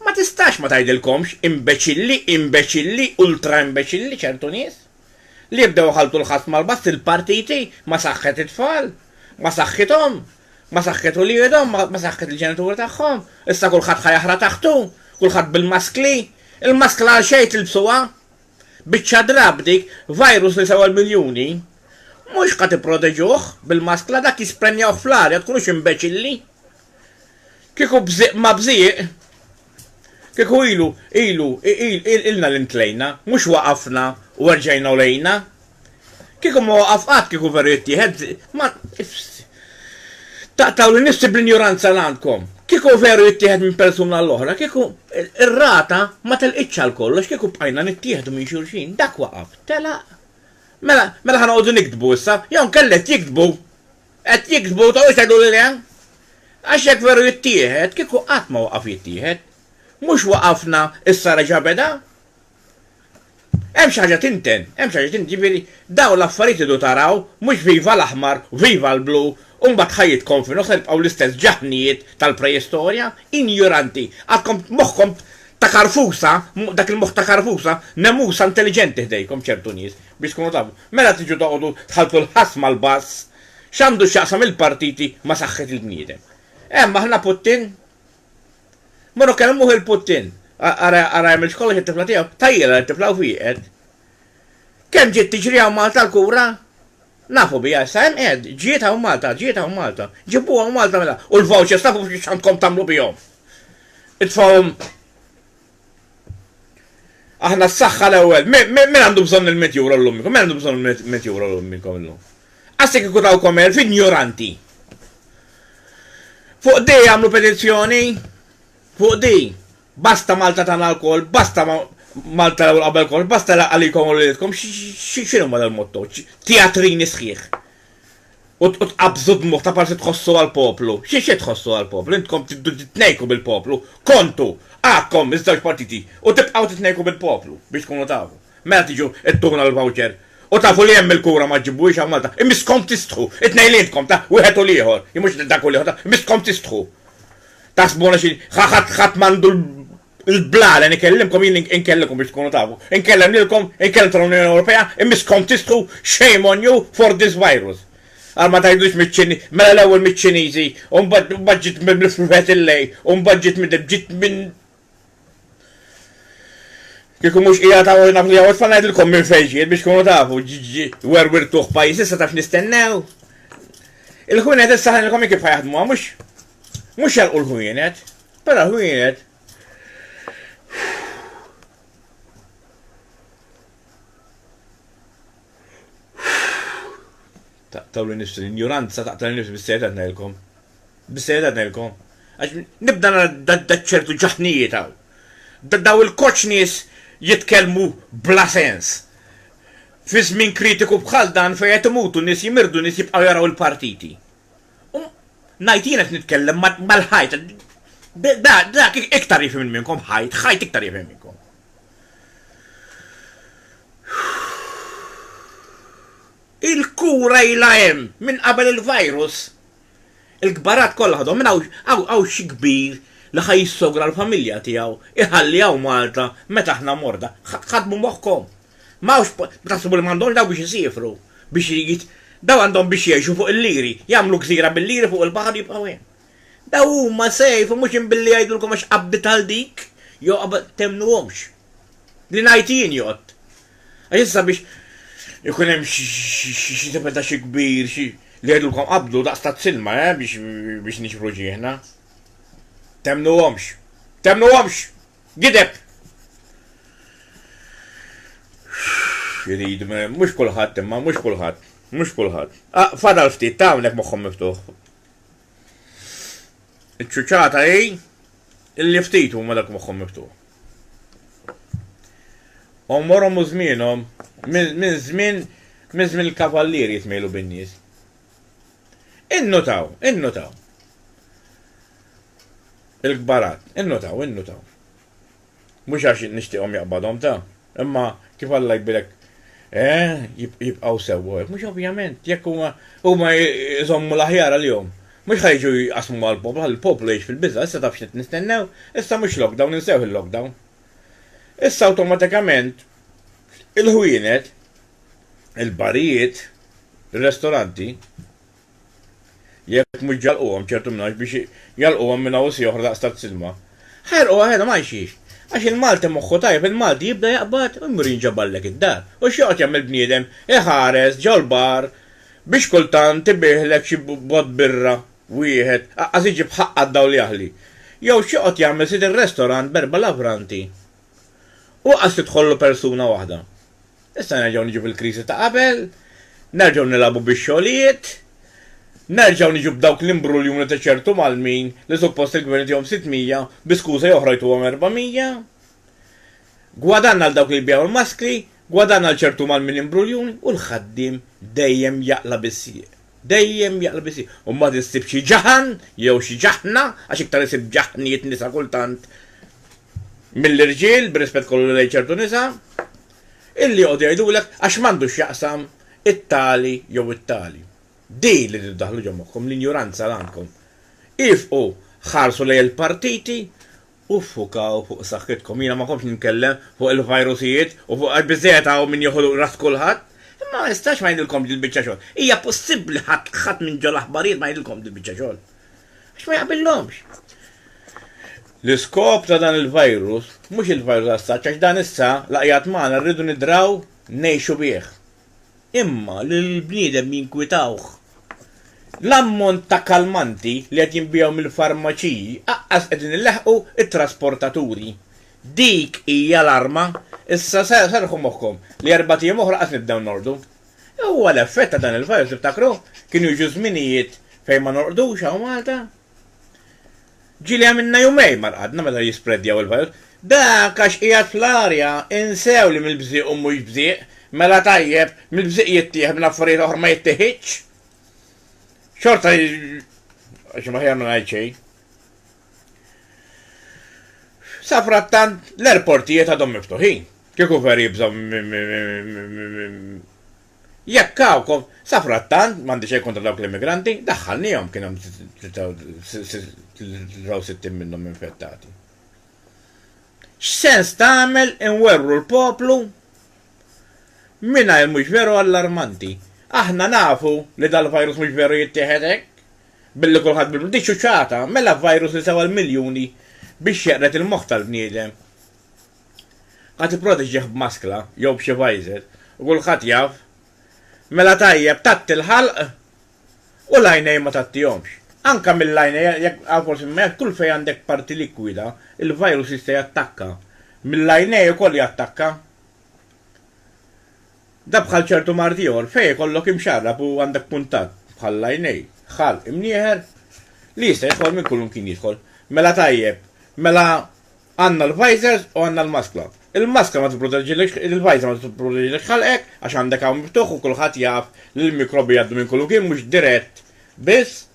Ma tistax ma tgħidilkomx imbeċilli, imbeċilli, ultraimbeċilli ċertu nies, li jibdew iħalltu l-ħass mal-bass il-partiti ma saħħet it-tfal, ma saħħithom, Ma saħqet uliedhom, ma saħqet il-ġenituri tagħhom, issa kulħadd ħa jaħra taħtu, kulħadd bil-maskli. Il-maskla għal xejn tilbsuha? Biċċa drapp dik, virus li sewwa l-miljuni. Mhux ħa tipproteġuh bil-maskla, dak jisprenjawh fl-arja, tkunux imbeċilli. Kieku bżieq ma bżieq. Kieku ilu, ilu, iqil, ilna li ntlejna, mhux waqafna u erġajna u lejna. Kieku ma waqaf qatt, kieku veru jittieħed, ma, taqtgħuli nnifsi bl-injoranza li għandkom. Kieku veru jittieħed minn persuna għall-oħra, kieku r-rata ma telqitx għal kollox, kieku bqajna nittieħdu minn xulxin, dak waqaf, telaq. Mela, mela ħa noqogħdu niktbu issa, jew inkella qed jiktbu! Qed jiktbu ta' u jteddu lil hemm. Għax jekk veru jittieħed, kieku qatt ma waqaf jittieħed. Mhux waqafna, issa reġa' beda? Hemm xi ħaġa tinten, hemm xi ħaġa tinten, jiġifieri dawn l-affarijiet tridu taraw, mhux viva l-aħmar, viva l-blu, u mbagħad ħajjitkom f'inhu se tibqgħu l-istess ġaħnijiet tal-preistorja, injuranti, għadkom moħħkom ta' karfusa, dak il-moħħ ta' karfusa, nemusa intelliġenti ħdejkom ċertu nies. Biex tkunu tafu, meta tiġu toqogħdu tħalltu l-ħass mal-bass, x'għandu x'jaqsam il-partiti ma' saħħet il-bniedem? Hemm aħna Puttin? Morru kellmuh il-Puttin. Ara ara jagħmilx kollox għat-tifla tiegħu. Tgħajjilha lit-tifla u fieqet. Kemm ġiet tiġri hawn Malta l-kura? Nafu biha issa, hemm qiegħed, ġiet hawn Malta, ġiet hawn Malta. Ġibuha hawn Malta mela. U l-vouchers tafu x'għandkom tagħmlu bihom? Itfgħuhom Aħna s-saxħa l-ewel. Min għandu bżon il-met jura l-lummikom? Min għandu bżon il-met jura l-lummikom l-lum? Għassi kiku taw komer f'ignoranti. Fuq di għamlu petizzjoni? Fuq di? Basta Malta tana l-kol, basta Malta l-ewel qabel kol, basta għalikom u l-lidkom, xinu ma dal-motto? Teatrini sħiħ. u tqabbżu d-dmugħ ta' kważi tħossu għall-poplu. Xi xi tħossu għall-poplu? Intkom triddu titnejku bil-poplu. Kontu! Għakkom, iż-żewġ partiti, u tibqgħu titnejku bil-poplu, biex tkunu tafu. Mela tiġu ittuna l-voucher. U tafu li hemm il-kura ma ġġibuhiex hawn Malta. Imisskom tistħu! It-tnejn li intkom, ta', wieħed u l-ieħor, jew mhux dak u l-ieħor, ta', imisskom tistħu! Taħsbuna xi, ħadd m'għandu L-blala li nkellimkom jien inkellimkom biex tkunu tafu. Inkellem lilkom, inkellem tal-Unjoni Ewropea, imma skont tistħu shame on you for this virus. Għal ma tgħidux miċ-Ċiniżi, mela l-ewwel miċ-Ċiniżi, u mbagħad ġiet mill-Profet il-lej, u mbagħad ġiet minn ġiet minn Kieku mhux hija ta' naf li hawn tfal ngħidilkom minn fejn ġiet biex tkunu tafu werwirtuh pajjiż issa taf nistennew. Il-ħwienet issa ħanilkom kif ħajaħdmuha mhux mhux jalqu l-ħwienet. Mela ħwienet, taqtaw li nifsi l-injuranza, taqtaw li nifsi bis-sejda tnejlkom. Bis-sejda tnejlkom. Għax nibda nara ċertu ġaħnijiet hawn. Daw il-koċ nies jitkellmu bla sens. Fi żmien kritiku bħal dan fejn qed imutu nies jimirdu nies jibqgħu jaraw il-partiti. U ngħid jien qed nitkellem mal-ħajt. Dak iktar jifhem minn minnkom, ħajt, ħajt iktar jifhem minn minnkom. Il-kura ilha hemm minn qabel il-virus. Il-kbarat kollha ħadhom minn hawn xi kbir li ħa jissogra l-familja tiegħu, iħalli hawn Malta meta aħna morda. Ħadmu moħħkom. Ma hawnx po-, taħsbu li m'għandhomx dawk biex isiefru, biex jit-, daw għandhom biex jgħixu fuq il-liri, jagħmlu gżira bil-liri fuq il-baħar u jibqgħu hemm. Daw huma safe u mhux imbilli jgħidulkom għax qabdiet għal dik, jew qab-, temnuhomx. Li ngħid jien jgħodd. Għax issa biex ikun hemm xi-xi-xi tipen ta' xi kbir, xi, li jgħidulkom qabdu daqs taz-zilma, eh, biex-biex niġbru ġieħna. Temnuhomx. Temnuhomx! Gideb! X'irid, mhux kulħadd imma, mhux kulħadd, mhux kulħadd. Ah, fadal ftit, ta' hawnhekk moħħhom miftuħ. Iċ-ċuċata hi illi ftit huma dak moħħhom miftuħ. Għomorhom u żmienhom minn żmien minn żmien il-kavallieri jitmejlu bin-nies. Innutaw, innutaw. Il-kbarat, innutaw, innutaw. Mhux għax nixtieqhom jaqbadhom ta, imma kif Alla jbirek eh, jibqgħu sewwa hekk, mhux ovvjament, jekk huma huma jżommu l-aħjar għalihom. Mhux ħa jiġu jqassmu mal-poplu, ħalli l-poplu jgħix fil-biża', issa taf x'qed nistennew, issa mhux lockdown, insewh il-lockdown. Issa awtomatikament il-ħwienet il-barijiet, ir-restoranti, jekk mhux ġalquhom ċertu minn hawn biex jalquhom minn hawn u si oħra daqs tal-silma. Ħarquha ħelhom għal xiex? Għax il-Malti moħħu tajjeb, il-Malti jibda jaqbad u jmur jinġaballek id-dar. U x'joqgħod jagħmel bniedem? Iħares ġol bar biex kultant ibiħlek xi bott birra wieħed, aqqas iġib ħaqqa d-dawl jaħli. Jew x'joqgħod jagħmel sid ir-restorant b'erba' lavranti u qas tidħollu persuna waħda. Issa nerġgħu niġu fil-kriżi ta' qabel, nerġgħu nilagħbu bix-xogħlijiet, nerġgħu niġu b'dawk l-imbruljuni ta' ċertu Malmin li suppost il-Gvern itihom 600 bi skuża oħra jtuhom 400. Gwadann għal dawk li jbigħu l-maskri, gwadann għal ċertu Malmin imbruljuni u l-ħaddiem dejjem jaqla' bis-sieq. Dejjem jaqla' bis-sieq u mbagħad issib xi ġaħan jew xi ġaħna għax iktar isib ġaħniet nisa kultant, mill-irġiel, bir-rispett kollu lejn ċertu nisa, illi joqogħdu jgħidulek għax m'għandu x'jaqsam it-tali jew it-tali. Din li tridu ddaħħlu ġo moħħkom, l-injuranza li għandkom. Iefqu, ħarsu lejn il-partiti u ffukaw fuq saħħitkom. Jiena ma komx nitkellem fuq il-vajrusijiet u fuq għax biżżejjed hawn min joħu ras kulħadd. Imma ma nistax ma ngħidilkomx dil-biċċa xogħol. Hija possibbli ħadd ħadd minn ġo l-aħbarijiet ma jgħidilkom dil-biċċa xogħol? Għax ma jaqbillhomx. L-iskop ta' dan il-virus mhux il-virus as-such għax dan issa la qiegħed magħna rridu nidraw ngħixu bih. Imma lill-bniedem jinkwitawh. L-ammont ta' kalmanti li qed jinbiegħu mill-farmaċiji aqqas qegħdin ilaħħqu t-trasportaturi. Dik hija l-arma. Issa serrħu moħħkom li erbat ijiem oħra qatt nibdew nordu. Huwa l-effett ta' dan il-virus, tiftakru? Kienu jiġu żminijiet fejn ma norqdux hawn Malta. Ġieli għamilna jumejn ma rqadna meta jispreddjaw il-virus. Dak għax qiegħed fl-arja, insew li mill-bżieq u mhux bżieq, mela tajjeb, mill-bżieq jittieħed, mill-affarijiet oħra ma jittieħidx? Xorta għax aħjar ma ngħid xejn. Safrattant l-airportijiet għadhom miftuħin. Kieku vera jibżgħu minn Jekk hawn, safrattant, m'għandi xejn kontra dawk l-immigranti, daħħalniehom kien hemm 63 minnhom infettati. X'sens tagħmel inwerwru l-poplu mingħajr mhux veru allarmanti? Aħna nafu li dal-virus mhux veru jittieħed hekk, billi kulħadd bil Dik xuxata, mela virus li sewa l-miljuni biex jeqred il-moħħ tal-bniedem. Ħadd ipproteġih b'maskla jew b'xi visor u kulħadd jaf. Mela tajjeb tgħatti l-ħalq u l-għajnejn ma tgħattihomx. Anke mill-għajnejn jekk hawn forsi imma jekk kull fejn għandek parti likwida, il-virus jista' jattakka. Mill-għajnejn ukoll jattakka. Dan bħal ċertu mard ieħor fejn ikollok imxarrab u għandek kuntatt bħall-għajnejn, ħalq imnieħer li jista' jidħol minn kullimkien jidħol. Mela tajjeb, mela Għandna l-visors u għandna l-maskla. Il-maskla ma tipproteġilekx, il-visor ma tipproteġilekx ħalqek għax għandek hawn miftuħ u kulħadd jaf li l-mikrobi jgħaddu minn kull imkien mhux dirett biss,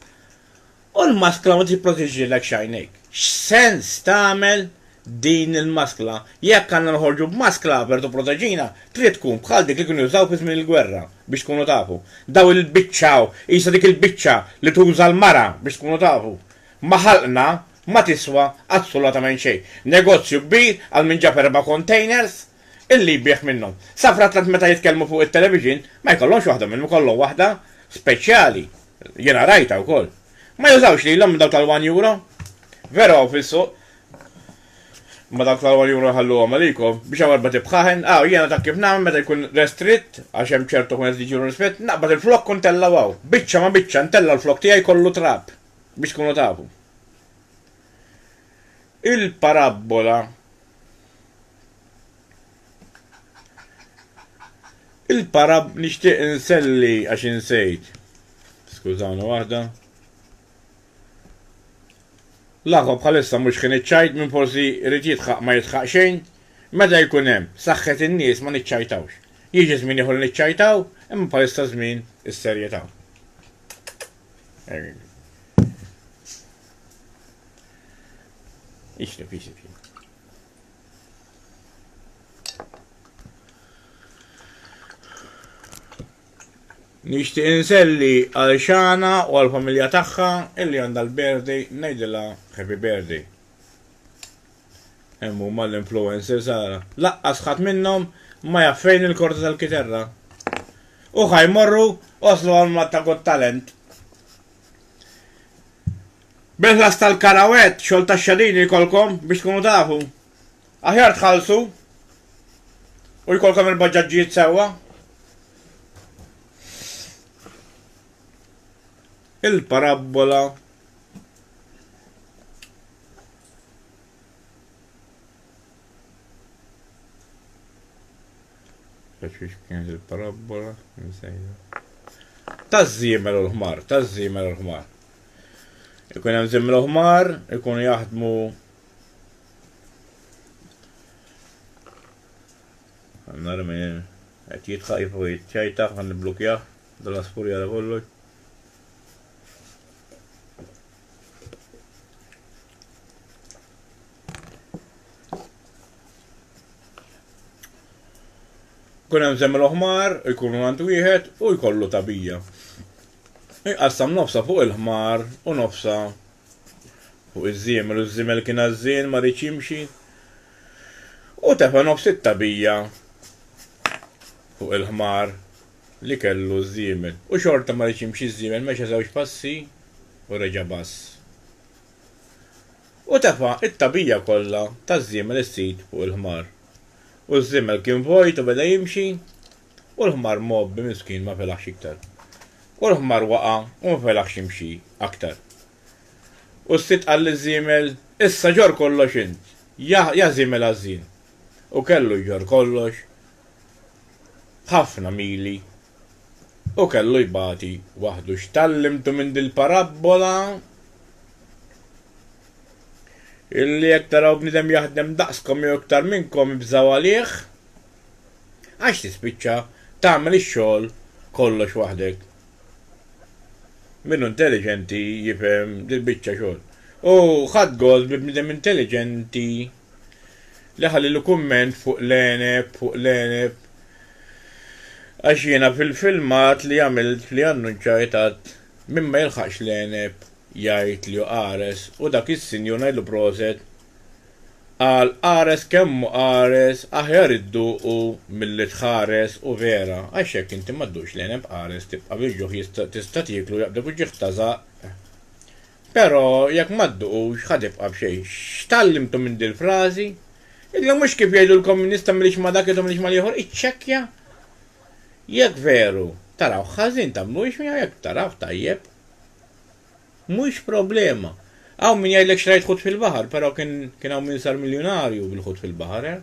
u l-maskla ma tipproteġilekx għajnejk. X'sens tagħmel din il-maskla? Jekk għandna noħorġu b'maskla per tipproteġina, trid tkun bħal dik li kienu jużaw fi żmien il-gwerra, biex tkunu tafu. Daw il-biċċa qisha dik il-biċċa li tuża l-mara biex tkunu tafu. Ma ħalqna ma tiswa assolatament xejn. Negozju kbir għal min ġab erba' kontejners illi jbigħ minnhom. Safra tant meta jitkellmu fuq it-television ma jkollhomx waħda minnhom ikollhom waħda speċjali. Jiena rajtha wkoll. Ma jużawx lilhom minn dawk tal-one euro? Veru hawn fis-suq. Imma dawk tal-one euro nħalluhom għalikom. Biex hawn erba' tibħaħen. Aw, jiena taf kif nagħmel meta jkun restritt għax hemm ċertu kontejners li jġibu ristrett, naqbad il-flokk u ntellgħu hawn. Biċċa ma' biċċa ntella' l-flokk tiegħi kollu trab. biex tkunu tafu. Il-parabbola Il-parab nixtieq inselli għax insejt. Skużawni waħda. L-aħwa bħalissa mhux kien iċċajt minn forsi rrid jitħaq ma jitħaq xejn. Meta jkun hemm saħħet in-nies ma niċċajtawx. Jiġi żmien ieħor niċċajtaw, imma bħalissa żmien is-serjetà. Erin. Ixti, ixti, ixti. Nixtieq inselli għal xana u għal familja tagħha illi għandha l-birthday ngħidilha happy birthday. Hemm huma l-influencers ara. Laqqas ħadd minnhom ma jaf fejn il-korda tal-kiterra. U ħa jmorru waslu għal Malta Got Talent. Bil-ħlas tal-karawett, xogħol tax-xadini jkollkom biex tkunu tafu. Aħjar tħallsu u jkollkom il-baġaġġijiet sewwa. il-parabbola kienet il-parabbola taż-żiemel u l-ħmar, taż-żiemel u l-ħmar. Ikun hemm żiemel u ħmar, ikun jaħdmu Għanna rmin, għet jitħaq jifu jitċajtaħ, għan niblukjaħ, dalla spurjara kollox. Kun hemm żemmel oħmar, jkunu għand wieħed u jkollu tabija. Iqassam nofsa fuq il-ħmar u nofsa fuq iż-żiemel u ż-żiemel kien għażżien ma rridx jimxi. U tefa nofs it-tabija fuq il-ħmar li kellu ż-żiemel u xorta ma riedx jimxi ż-żiemel mexa żewġ passi u reġa' bass u tefa' t-tagħbija kollha taż-żiemel is-sid fuq il-ħmar u ż-żiemel kien vojt u beda jimxi u l-ħmar mgħobbi miskin ma felaħx iktar u l-ħmar waqa' u ma felaħx jimxi aktar u s-sid qal liż-żiemel issa ġorr kollox int ja ja żiemel għażżin u kellu jġorr kollox b'ħafna mili, u kellu jbati waħdu. X'tgħallimtu minn dil-parabbola? Illi jekk taraw bniedem jaħdem daqskom jew iktar minnkom ibżgħu għalih, għax tispiċċa tagħmel ix-xogħol kollox waħdek. Min hu intelliġenti jifhem dil-biċċa xogħol. U ħadt gost bi bniedem intelliġenti. li ħa lilu kumment fuq l-għeneb, fuq l-għeneb, għax jiena fil-filmat li għamilt li annunċajt għadt min ma jilħaqx l-għeneb jgħid li hu qares u dak is-sinjur ngħidlu proset qal qares kemm hu qares aħjar idduqu milli tħares u vera għax jekk inti ma dduqx l-għeneb qares tibqa' bil-ġuħ tista' tieklu jaqbdek u ġieħ ta' żaqq. Però jekk ma dduqux, ħa tibqa' b'xejn. X'tgħallimtu minn dil-frażi? Illa mhux kif jgħidulkom min jista' m'ieliex ma' dak, idhom ieliex mal-ieħor, iċċekkja! Jekk veru tarawh ħażin, tagħmlu wix miegħu, jekk tarawh tajjeb, mhux problema. Hawn min jgħidlek xtrajt ħut fil-baħar, però kien kien hawn min sar miljunarju bil-ħut fil-baħar, eh?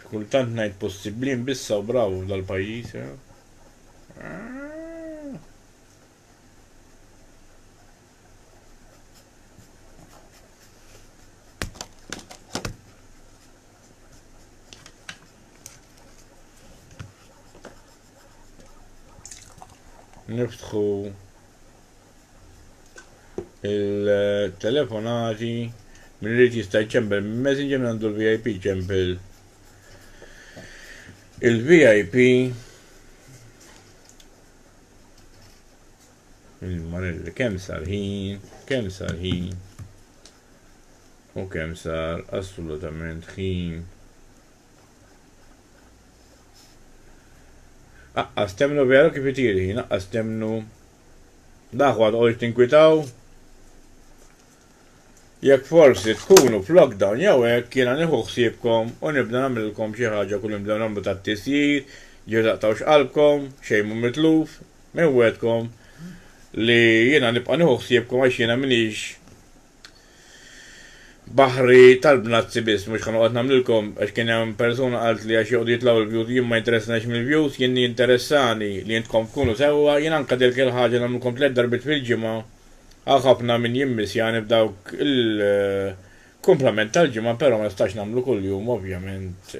Xi kultant ngħid possibbli nbissgħu bravu f'dal-pajjiż, eh? niftħu il-telefonati minn irid jista' jċempel minn messenger minn għandu l-VIP ċempel il-VIP il-marelli kemm sarħin, kemm sarħin u kemm sar assolutament ħin. Aqqas temnu vera kif itir ħin, aqqas temnu l-aħwa toqgħodx tinkwitaw. Jekk forsi tkunu f'lockdown jew hekk jiena nieħu ħsiebkom u nibda nagħmlilkom xi ħaġa kull nibdew nagħmlu tat-tisjir, ġieli taqtgħux qalbkom, xejn mhu mitluf, inwegħedkom li jiena nibqa' nieħu ħsiebkom għax jiena m'iniex Baħri tal-bnazzi biss, mhux ħa noqgħod nagħmlilkom għax kien hemm persuna qalt li għax joqogħdu jitlgħu l-views jien ma jinteressnix mill-views, jien jinteressani li intkom tkunu sewwa, jien anke dehk il-ħaġa nagħmlilkom tliet darbiet fil-ġimgħa hawn ħafna min jimmissjani b'dawk il-kumplament tal-ġimgħa però ma nistax nagħmlu kuljum ovvjament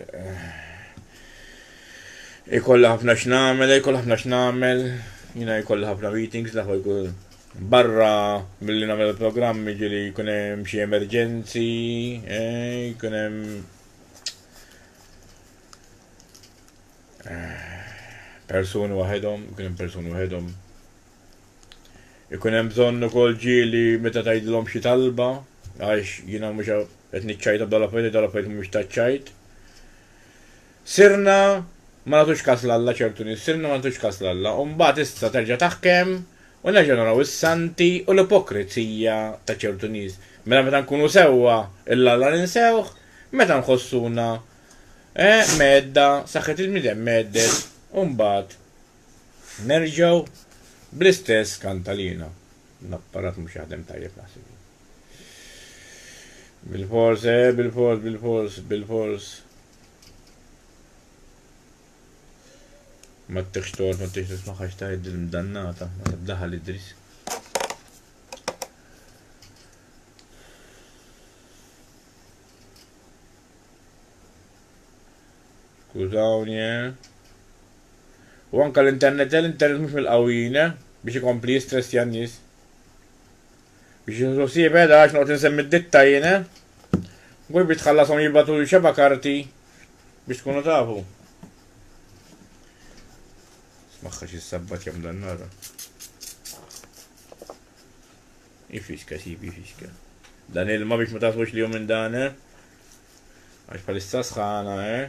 ikollha ħafna x'nagħmel, jkollha ħafna x'nagħmel, jiena jkolli ħafna meetings l-aħwa jkun. Barra milli nagħmel il-programm jiġieli jkun hemm xi emerġenzi, eh, jkun hemm eh, persuni waħedhom, jkun hemm persuni waħedhom. Ikun hemm bżonn ukoll ġieli meta tgħidilhom xi talba għax jiena mhux qed niċċajta b'dala fejn dala fejn mhux taċċajt. Sirna ma nagħtux kas 'l Alla, ċertu nies, sirna ma nagħtux kas 'l Alla, u mbagħad issa terġa' taħkem u nerġgħu naraw is-santi u l-ipokrezija ta' ċertu nies. Mela meta nkunu sewwa 'l Alla ninsewh, meta nħossuna, eh, mgħedda, saħħet il-bniedem mgħeddet, u mbagħad nerġgħu bl-istess kantalina. L-apparat mhux jaħdem tajjeb naħseb jien. Bilfors, eh, bilfors, bilfors, bilfors. Ma ttekx toqgħod ma ttekx tisma' ħax tgħid il-mdannata meta ddaħal Idris. Skużawni, eh? U anka l-internet, eh, l-internet mhux mill-qawwina eh? biex ikompli jistressja n-nies. Biex jinżlu siepe da għax noqgħod insemmi d-ditta jien eh. Gurbi tħallashom jibgħatuli xeba' karti biex tkunu tafu. Smaħħa xi sabbat jam dan nara. Ifixka sibi ifixka. Dan ilma biex ma tafux li minn dan eh. Għax bħalissa sħana eh.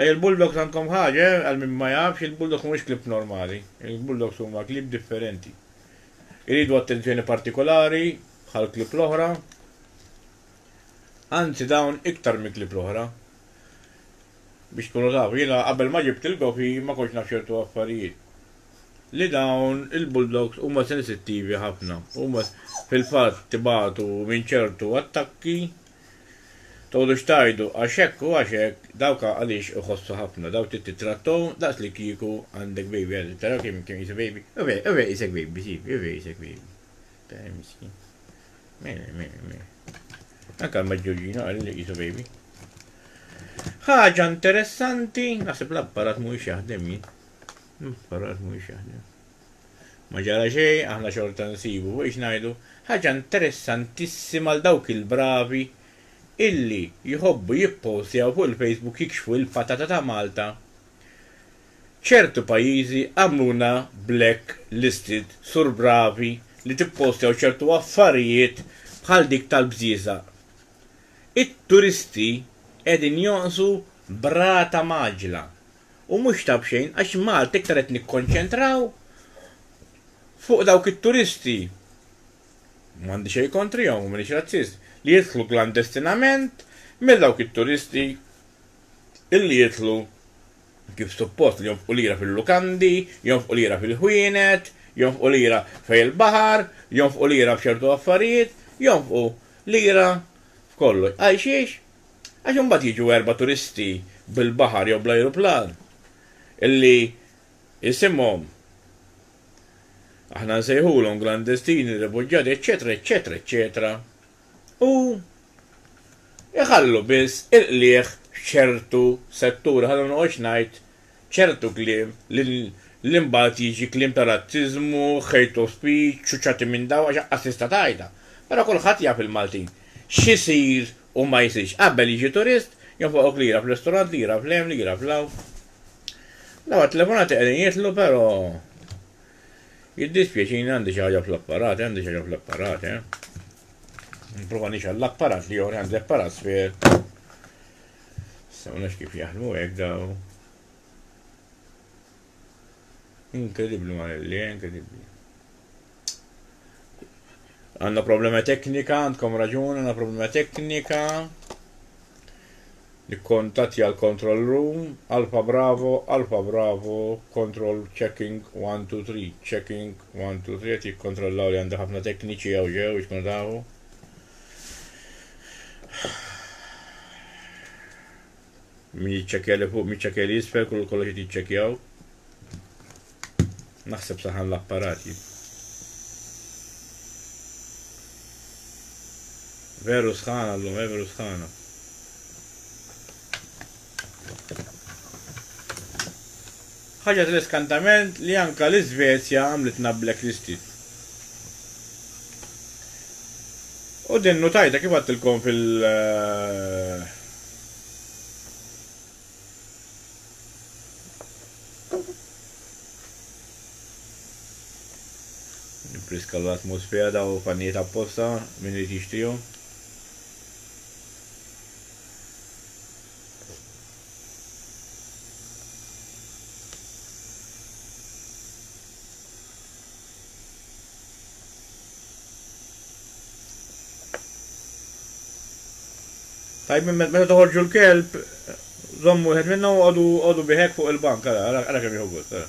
Ej il-Bulldogs għandkom ħaġa eh, għal min ma jafx, il-Bulldogs mhumiex klieb normali, il-Bulldogs huma klieb differenti. Iridu attenzjoni partikolari bħal klieb l-oħra, anzi dawn iktar minn klieb l-oħra. Biex tkunu tafu, jiena qabel ma ġibt lil Gofi ma kontx naf ċertu affarijiet. Li dawn il-Bulldogs huma sensittivi ħafna, huma fil-fatt ibatu minn ċertu attakki, Tgħodux tgħajdu għax hekk u għax hekk, dawk għaliex iħossu ħafna, dawk trid tittrattahom daqs li kieku għandek baby għażiż, taraw kemm kemm qisu baby, u vera, u vera qisek baby, sifi, u vera qisek baby. Tara miskin. Mela, mela, mela. Anke l-Maġġurġina qal li qisu baby. Ħaġa interessanti, naħseb l-apparat mhuwiex jaħdem jien. L-apparat mhuwiex jaħdem. Ma ġara xejn, aħna xorta nsibu, biex ngħidu, ħaġa interessantissima għal dawk il-bravi illi jħobbu jippowstjaw fuq il-Facebook jikxfu il-patata ta' Malta, ċertu pajjiżi għamluna black listed sur bravi li tippowstjaw ċertu affarijiet bħal dik tal-bżieżaq. It-turisti qegħdin jonqsu b'rata mgħaġġla. u mhux ta' b'xejn għax Malta iktar qed nikkonċentraw fuq dawk it-turisti, m'għandi xejn kontrihom u m'iniex razzist, li jidħlu klandestinament milli dawk it-turisti illi jidħlu kif suppost li jonfqu lira fil-lukandi, jonfqu lira fil-ħwienet, jonfqu lira fejn il-baħar, jonfqu lira f'ċertu affarijiet, jonfqu lira f'kollox. Għalxiex? Għax imbagħad jiġu erba' turisti bil-baħar jew bl-ajruplan illi isimhom aħna nsejħulhom klandestini, refuġjati, eċċetera, eċċetera, eċċetera, u jħallu biss il-qligħ f'ċertu setturi, ħalli ma noqgħodx ngħid ċertu kliem li mbagħad jiġi kliem ta' razziżmu, hate of speech, ċuċċati minn dawn għax aqqas tista' tgħidha. Però kulħadd jaf il-Maltin x'isir U ma jsirx. Qabel jiġi turist, jonfoqok lira f'ristorant, lira f'hemm, lira f'law. Dawn it-telefonati qegħdin jitlu però jiddispjaċini għandi xi ħaġa fl-apparat, għandi xi ħaġa fl-apparat, eh. Nipprova nixgħel l-apparat li joħri għandi apparat sfir. Sewna kif jaħdmu hekk daw. Inkredibbli ma' li, inkredibbli. Għanna problema teknika, għandkom raġun, għanna problema teknika. Nikkontatti għal control room, alfa bravo, alfa bravo, control checking 1, 2, 3, checking 1, 2, 3, għet jikkontrollaw li għanda ħafna tekniċi għaw ġew, itkun daħu. Min jitċekja li fuq, min jitċekja li jisfel, kullu kollox jitċekjaw. Naħseb saħan l-apparat jien. Veru sħana llum, eh, veru sħana. Ħaġa tal-iskantament li anka l-Iżvezja għamlitna blacklisted. U din nutajta kif għattilkom fil- eh, Friska l-atmosfera daw pannijiet apposta min irid jixtrihom. Tajb, meta toħorġu l-kelb, zommu wieħed minna u għodu biħek fuq il-bank, għara kemm jieħu gost, għara.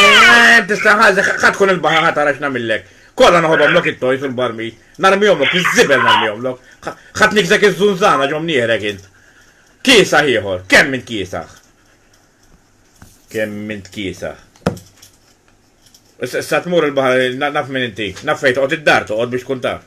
Eh, tista' ħażi, ħa tkun il-baħa ħa tara x'nagħmillek. Kollha noħodhom lok it-tojs u l-barmi. Narmihom lok, iż-żibel narmihom lok. Ħadd nikżek iż-żunżana ġom nierek int. Kiesaħ ieħor, kemm int kiesaħ? Kemm int kiesaħ? Sa tmur il-baħar, naf minn inti, naf fejn toqgħod id-dar toqgħod biex tkun taf.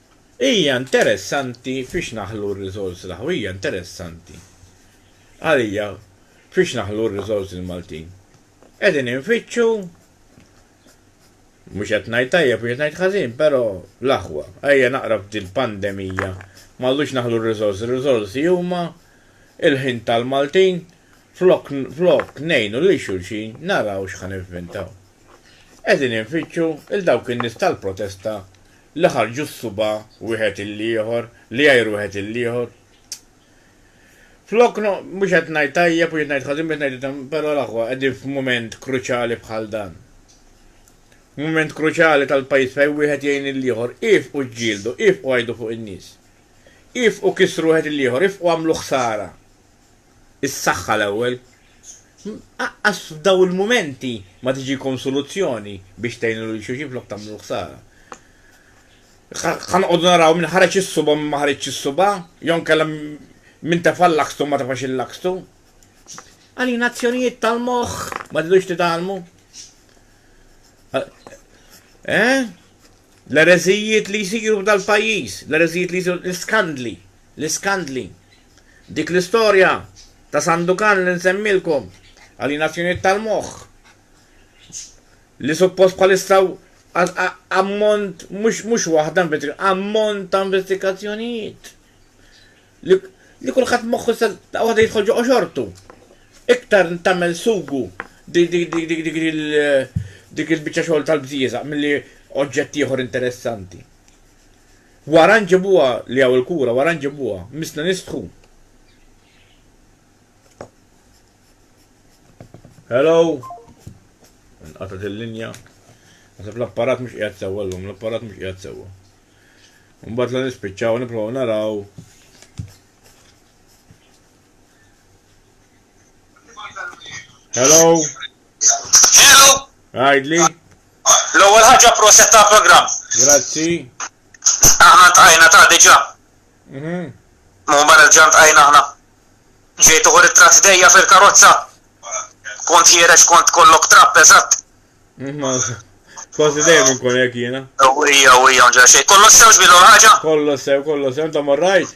Hija interessanti fiex naħlu r-riżorsi l-aħ. Hija interessanti għalija fiex naħlu r-riżorsi l-Maltin. Qegħdin infittxu, mhux qed ngħid tajjeb, mhux qed ngħid ħażin, però l-aħwa. Ejja naqra f'dil-pandemija ma rridux naħlu r-riżorsi. Ir-riżorsi huma l-ħin tal-Maltin, flok flok ngħinu lil xulxin naraw x'ħa nivvintaw. Qegħdin infittxu 'l dawk in-nies tal-protesta li ħarġu s-subgħa wieħed il-ieħor, li għajru wieħed il-ieħor. Flok no, mhux qed ngħid tajjeb u qed ngħid ħażin biex ngħid item, però l-aħwa qegħdin f'mument kruċjali bħal dan. Mument kruċjali tal-pajjiż fejn wieħed jgħin il-ieħor, iefqu ġġieldu, iefqu għajdu fuq in-nies. Iefqu kissru wieħed il-ieħor, iefqu għamlu ħsara. is-saħħa l-ewwel. Aqqas f'daw il-mumenti ma tiġikom soluzzjoni biex tgħinu lil xulxin flok tagħmlu l-ħsara. Ħa noqogħdu naraw min ħareġ is-suba min ma ħareġx is-suba, jew nkella min tefa' l-lakstu ma tefax il-lakstu. Għalina azzjonijiet tal-moħħ ma tidux titgħallmu. Eh? L-ereżijiet li jsiru f'dal-pajjiż, l-ereżijiet li jsiru l-iskandli, l-iskandli. Dik l-istorja ta' Sandukan li nsemmilkom, alienazzjonijiet tal-moħħ, li suppost bħalissa ammont mhux waħda ammont ta' investigazzjonijiet li kulħadd moħħu sa waħda jidħol ġo xortu. Iktar tagħmel sugu dik il-biċċa xogħol tal-bżieżaq milli oġġett ieħor interessanti. Wara nġibuha li hawn il-kura wara nġibuha. Missna nistħu. Hello. Inqatgħet il-linja. Nasab l-apparat mhux qiegħed sewwa llum, l-apparat mhux qiegħed sewwa. Mbagħad la nispiċċaw nipprovaw naraw. Hello. Hello! Għajdli. L-ewwel ħaġa proset ta' programm. Grazzi. Aħna ntqajna ta' diġà. Mhm. Mhu barra diġà ntqajna aħna. Ġejt uħu ritratt ħdejja fil-karozza. Kont ħiereġ kont kollok trapp eżatt. Kważi dejjem inkun hekk jiena. Ewwija, ewwija, mġa xejn. Kollox sewx bil ħaġa? Kollox sew, kollox sew, ta' morrajt.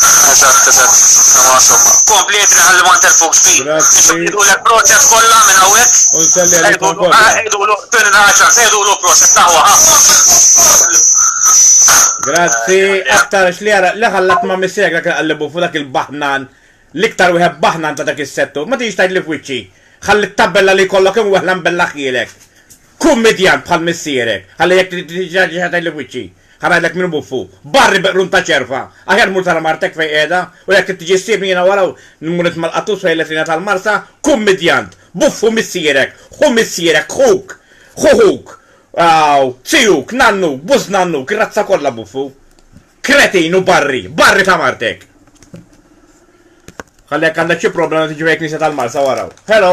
Eżatt, eżatt, ma somma. Kompli jibni ħalli ma nterfux bi. Nixħidu l-proċess kollha minn hawnhekk. U nselli għalikom kollha. Għedulu, tuni naħġa, għedulu proċess taħwa. Grazzi, aktar xli għara, li ħallat ma missek dak għallibu fu dak il-bahnan, l-iktar wieħed bahnan ta' dak is-settu, ma tix tajt li f'wiċċi. Ħalli t-tabella li kollok imweħlan bella ħjielek. Kun midjant bħal missierek, ħalli jekk trid tiġi xi ħaġa tgħidli f'wiċċi. Ħa ngħidlek min hu buffu. Barri bi qrun ta' ċerva! Aħjar mur tara martek fejn qiegħda, u jekk trid tiġi ssibni jiena wara u mmur nitma' l-qattus fejn l-etlina tal-Marsa, kun midjant! Buffu missierek! Ħu missierek! Ħuk! Ħu ħuk! Aw! Zijuk! Nannuk! Bużnannuk! Ir-razza kollha buffu! Kretin u barri! Barri ta' martek! Ħalli jekk għandek xi problema tiġi fejn il-knisja tal-Marsa wara u. Hello!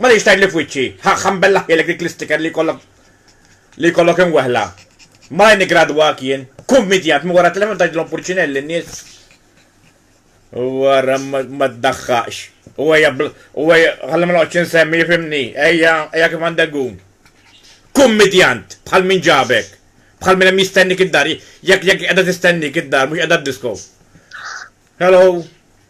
M'għaliex tgħidli f'wiċċi, ħa ħambellahielek dik l-isticker li jkollok li jkollok imweħla. Malajr niggradwak jien, kummidjant minn wara telefon tgħidilhom purċinell lin-nies. Wara ma ddaħħaqx. U ejja u ejja ħalli ma noqgħodx insemmi fimni, ejja ejja kif għandek gun. Kummidjant bħal min ġabek, bħal min hemm jistennik id-dar, jekk jekk qiegħda tistennik id-dar mhux qiegħda d-disko. Hello.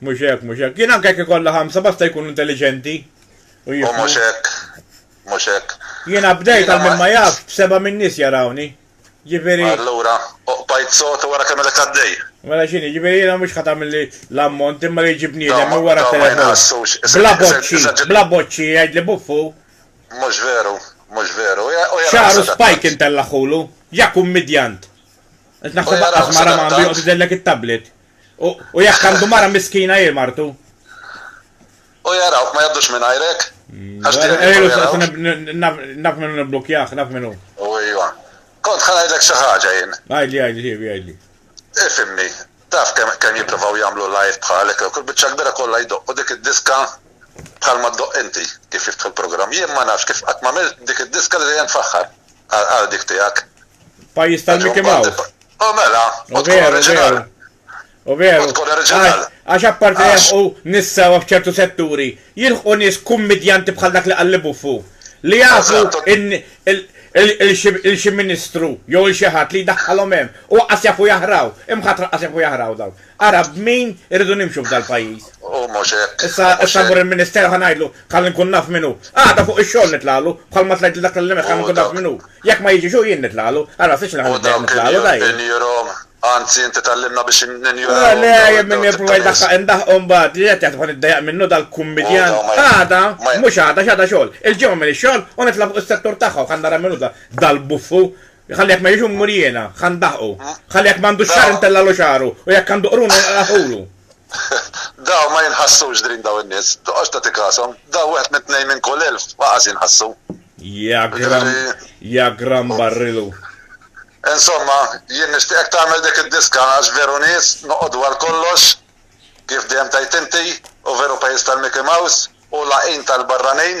Mhux hekk, mhux hekk. Jien anke jekk ikollha ħamsa basta jkunu intelliġenti. U mhux hekk, mhux hekk. Jiena bdejt għal min ma jafx b'seba' min-nies jarawni. Ġifieri. Allura, oqbajt sod u wara tagħmilek għaddej. Mela x'inhi, ġifieri jiena mhux ħadd għamilli l-ammont imma li jiġi bniedem minn wara t-telefon. Bla boċċi, bla boċċi jgħidli buffu. Mhux veru, mhux veru. Xagħru spike intellaħħulu, ja kummidjant. Qed naħseb aqqas mara m'għandu joqgħod idellek it-tablet. U jekk għandu mara miskina hi martu. U jarawk ma jaddux minn għajrek. Naf minnu niblukjaħ, naf minnu. U ejwa. Kont ħan għajdlek xi ħaġa jien. Għajdli, għajdli, ġiebi, għajdli. Ifimni, taf kemm jipprovaw jagħmlu live bħalek, kull biċċa kbira kollha jdoqqu dik id-diska bħal ma ddoqq inti kif jiftħu l-programm. Jien ma nafx kif qatt ma dik id-diska li dejjem tfaħħar. Għal dik tiegħek. Pajjiż tal-Mickey Mouse. U mela, u tkun oriġinal. U veru. U tkun oriġinal. Għax apparti jilħqu nissa f'ċertu setturi, jilħqu nies kummedjanti bħal dak li qalli buffu. Li jafu il-xi ministru jew il-xi ħadd li jdaħħalhom hemm. U qqas jafu jaħraw. Imħatra qqas jafu jaħraw dawn. Ara b'min irridu nimxu f'dal-pajjiż. Hu mhux hekk. Issa, issa mmur il-ministeru ħa ngħidlu, ħalli nkun naf min hu. Għada fuq ix-xogħol nitlagħlu, bħalma tlajt lil dak li kellimek ħalli nkun naf min hu. Jekk ma jiġix hu jien nitlagħlu. Ara, ma fidx li ħa nibda jien nitlagħlu, dai. U dawk injorhom, anzi inti tgħallimna biex ninjorahom. Le, jien min nipprova jdaħħaq indaħħqu mbagħad. Li qed jgħid ħa niddejjaq minnu dal-kummidjan. Għada, mhux għada, x'għada xogħol. Il-Ġimgħa m'iniex xogħol u nitla' fuq is-settur tagħha u ħa nara min hu dal-buffu. Ħalli jekk ma jiġu mmur jiena, ħa ndaħqu. Ħalli jekk m'għandu xar intellalu xaru u jekk għandu qrun inqalagħhulu. Daw ma jinħassux drin daw in-nies, toqgħodx tagħti kasom. Daw wieħed minn tnejn minn kull elf ħaqas jinħassu. Ja gram, ja gram barrilu. Insomma, jien nixtieqek tagħmel dik id-diska għax veru nies noqogħdu għal kollox kif dejjem tajt inti u veru pajjiż tal-Mickey Mouse u laqin tal-barranin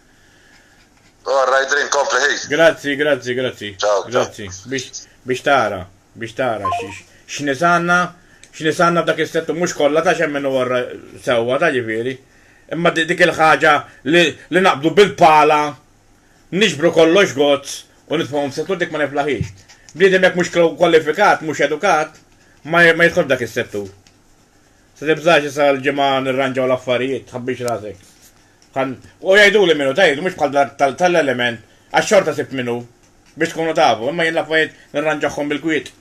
All right, drink, kompli ħi. Grazzi, grazzi, grazzi. Ciao, grazzi. Biex tara, biex tara x'nisanna, x'nisanna dak is-settu mhux kollha ta' xemmen u għorra sewwa ta' ġifieri. Imma dik il-ħaġa li naqbdu bil-pala, niġbru kollox gozz u nitfgħuhom settu dik ma niflaħiex. Bniedem jekk mhux kwalifikat, mhux edukat, ma jidħolx dak is-settur. Se tibżax issa l-ġimgħa nirranġaw l-affarijiet, tħabbix rasek. Kan, u jgħiduli min hu, tgħid, mhux bħal dak tal, tal-element, għax xorta sibt min hu, biex tkunu tafu, imma jien l-affarijiet nirranġahhom bil-kwiet.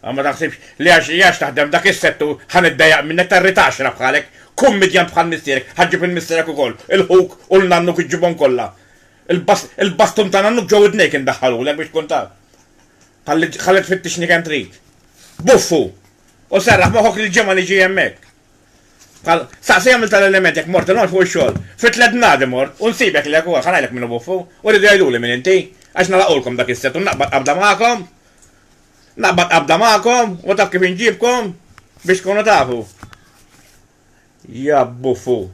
Għax ma taħsibx li għax, għax taħdem f'dak is-settur ħa niddejjaq minnek, tarrid għaxra bħalek, kummidjant bħal missierek, ħa ġġib lil missierek ukoll, il ħuk u lil nannuk iġġibhom kollha. Il-bas, il-bastun ta' nannuk ġo widnejk indaħħalulek biex tkun taf. Ħalli, ħalli tfittixni kemm trid. Buffu! U serraħ moħħok li l-Ġimgħa niġi hemmhekk. Bħal, staqsi għamilt tal-element jekk mort il-għonġ fuq ix-xogħol. Fi tliet bnadi mort u nsibek lek ukoll, ħa ngħidlek min hu buffu, u rridu jgħiduli min inti, għax nagħlaqulkom dak is-set u naqbad qabda magħkom, naqbad qabda magħkom u taf kif inġibkom biex tkunu tafu. Ja buffu.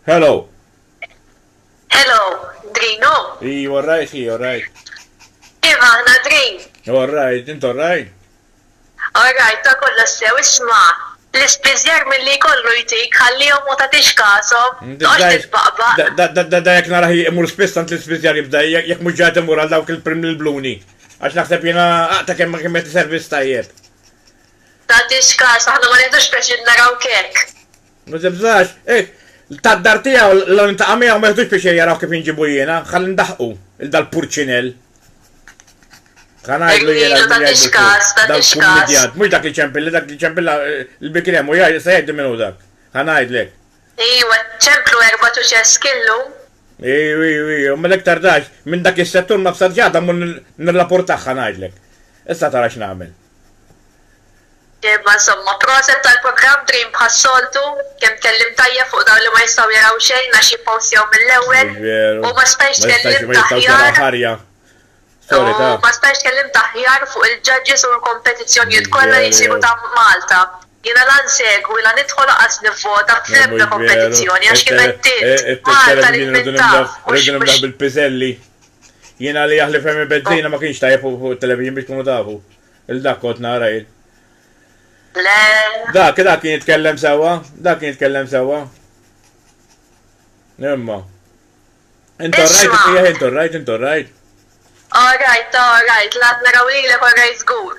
Hello. Hello, Drin hu? Ii, orrajt hi, orrajt. Kif aħna, Drin? Orrajt, int orrajt? Orrajt, ta' kollox sew, isma', l-ispiżjar milli jkollu jtik, ħallihom ma tagħtix kashom, toqgħodx titbaqbaq. Da, da jekk narah imur spiss għand l-ispiżjar jibda, jekk mhux ġa qed imur għal dawk il-primlilbluni, għax naħseb jiena ta' kemm kemm jagħti servizz tajjeb. Tagħtix kas, aħna ma nieħdux pjaċir narawk hekk. Ma tibżax, hekk, tad-dar tiegħu law nintaqa' miegħu ma jiħdux pjaċir jaraw kif inġibu jiena, ħalli ndaħħqu 'l dal-purċinell. Ħa ngħidlu jiena x'min jgħidlu hu, dal-kummidjant, mhux dak li ċempilla, dak li ċempilla l-bikri hemm u se jgħidli min hu dak. Ħa ngħidlek. Ejwa, ċemplu erbat u ċeski llum. Ejw, ejw, ejw, imma l-iktar dgħajf minn dak is-settur ma bsarx għadha mmur nirrapurtah ħa ngħidlek. Issa tara x'nagħmel. Imma insomma, proset tal-programm Dream bħas-soltu, kemm tkellimt tajjeb fuq dawk li ma jistgħu jaraw xejn għax jippostjaw mill-ewwel u ma stajtx tkellimt aħjar u ma stajtx tkellimt aħjar fuq il-judges u l-kompetizzjonjiet kollha li jsiru ta' Malta. Jiena la nsegwi la nidħol lanqas nivvota fl-ebda kompetizzjoni għax kif għedtilt, Malta rrid min taf mhux Jien għalli jaħli femi bezzina ma kienx tajjeb fuq il-televizjon biex kunu tafu. Il-dak kont nara jien. Le. Dak, dak kien jitkellem sewa, dak kien jitkellem sewa. Imma. Intor rajt, jieħ intor rajt, intor rajt. All right, all right, l-għad naraw li l-ek all right zgur.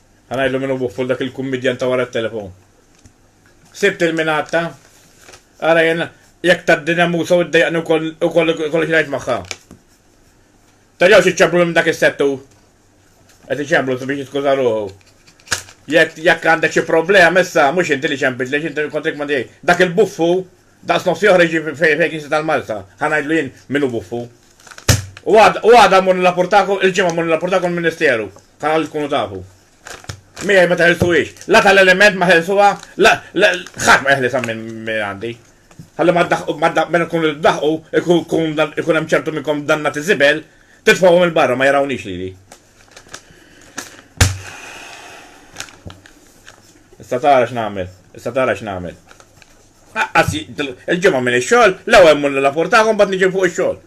Ħa ngħidlu min hu bufful dak il-kummidjan ta' wara t-telefon. Sibt il-minatta. Ara jien jekk tad-dinja musa u ddejjaqni wkoll kollox ngħid magħha. Tarjaw xi ċemplu minn dak is-settu. Qed iċemplu biex jiskuża ruħu. Jekk jekk għandek xi problema issa mhux inti li ċempit li inti kontrik ma dejjek. Dak il-buffu daqs nofsi oħra jiġi fejn kien tal-Malta. Ħa ngħidlu jien min hu buffu. U għada mmur nillapurtakom il-ġimgħa mmur nillapurtakom il-Ministeru. Tara li tkunu tafu. Miegħi ma teħilsuhiex. La tal-element ma ħelsuha, la ħadd ma jeħlisha minn għandi. Ħalli ma ddaħqu, meta tkunu ddaħqu, ikun hemm ċertu minnkom danna tiżibel, titfgħuhom il-barra ma jarawniex lili. Issa tara x'nagħmel, issa tara x'nagħmel. Aqqas il-ġimgħa minn ix-xogħol, l-ewwel mmur nirrapportaha u mbagħad niġi fuq ix-xogħol.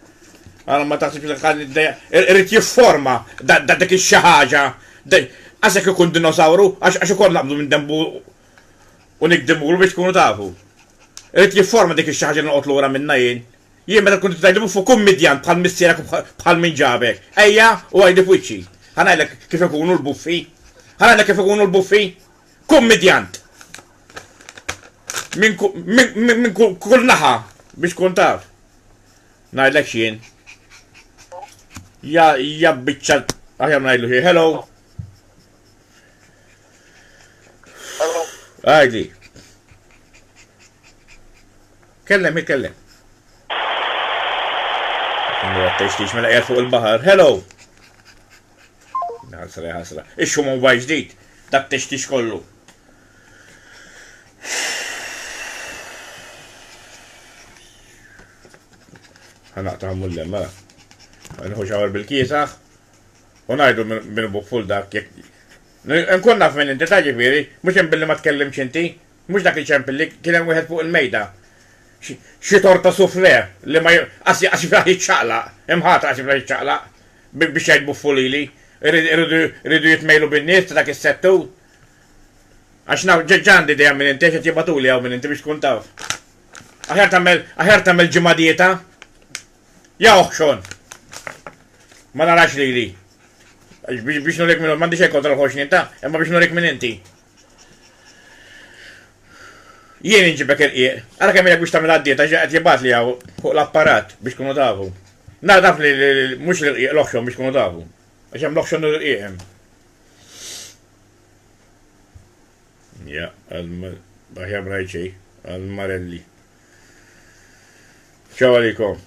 Għara ma taħsibx li ħan irrid jifforma da dik ix-xi ħaġa. Għasek ikun dinosawru għax ukoll naqbdu minn dembu u nikdimulu biex tkunu tafu. Irrid jifforma dik ix-xi ħaġa li noqgħod lura minnha jien. Jien meta tkun tgħidli fuq kummedjant bħal missierek u bħal min ġabek. Ejja u għidi f'wiċċi. Ħa ngħidlek kif ikunu l-buffi. Ħa ngħidlek kif ikunu l-buffi. kummidjant minn kull naħa biex tkun taf. Ngħidlek x'jien. Ja ja biċċa aħjar ngħidlu xi hello. Hello. Għajdi. Kellem, kellem. Mela fuq il-bahar. Hello! Ħasra ja ħasra. Ixxu mobile ġdid, dak tixtix kollu. Ħanaqta mullem, mela. Nħu xawar bil-kiesaħ. U najdu minn buk full dak jek. Nkun naf minn inti ta' ġifiri, mux billi ma tkellimx inti, Mhux dak iċempel li kien hemm wieħed fuq il-mejda. Xi torta soufflé li ma qas jaqas jiflaħ jiċċaqlaq. Imħataq qas jiflaħ jiċċaqlaq biex jgħid buffulili. Iridu jitmejlu bin-nies ta' dak is-settur. Għax naf ġa għandi dejja minn inti għax qed jibgħatuli hawn minn inti biex tkun taf. Aħjar tagħmel aħjar tagħmel ġimgħa dieta. Ja oħxon! Ma narax lili. Biex nurik minn m'għandi xejn kontra l-ħoxnien ta' imma biex nurik minn inti. Jien inġibek irqiq. Ara kemm ilek biex tagħmel għad-dieta xi qed jibgħat li hawn fuq l-apparat biex tkunu tafu. Nara taf li mhux l-irqiq l-oħxon biex tkunu tafu. Għax hemm l-oħxon u l-irqiq hemm. Ja, aħjar ma ngħid xejn għall-marelli. Ċaw għalikom.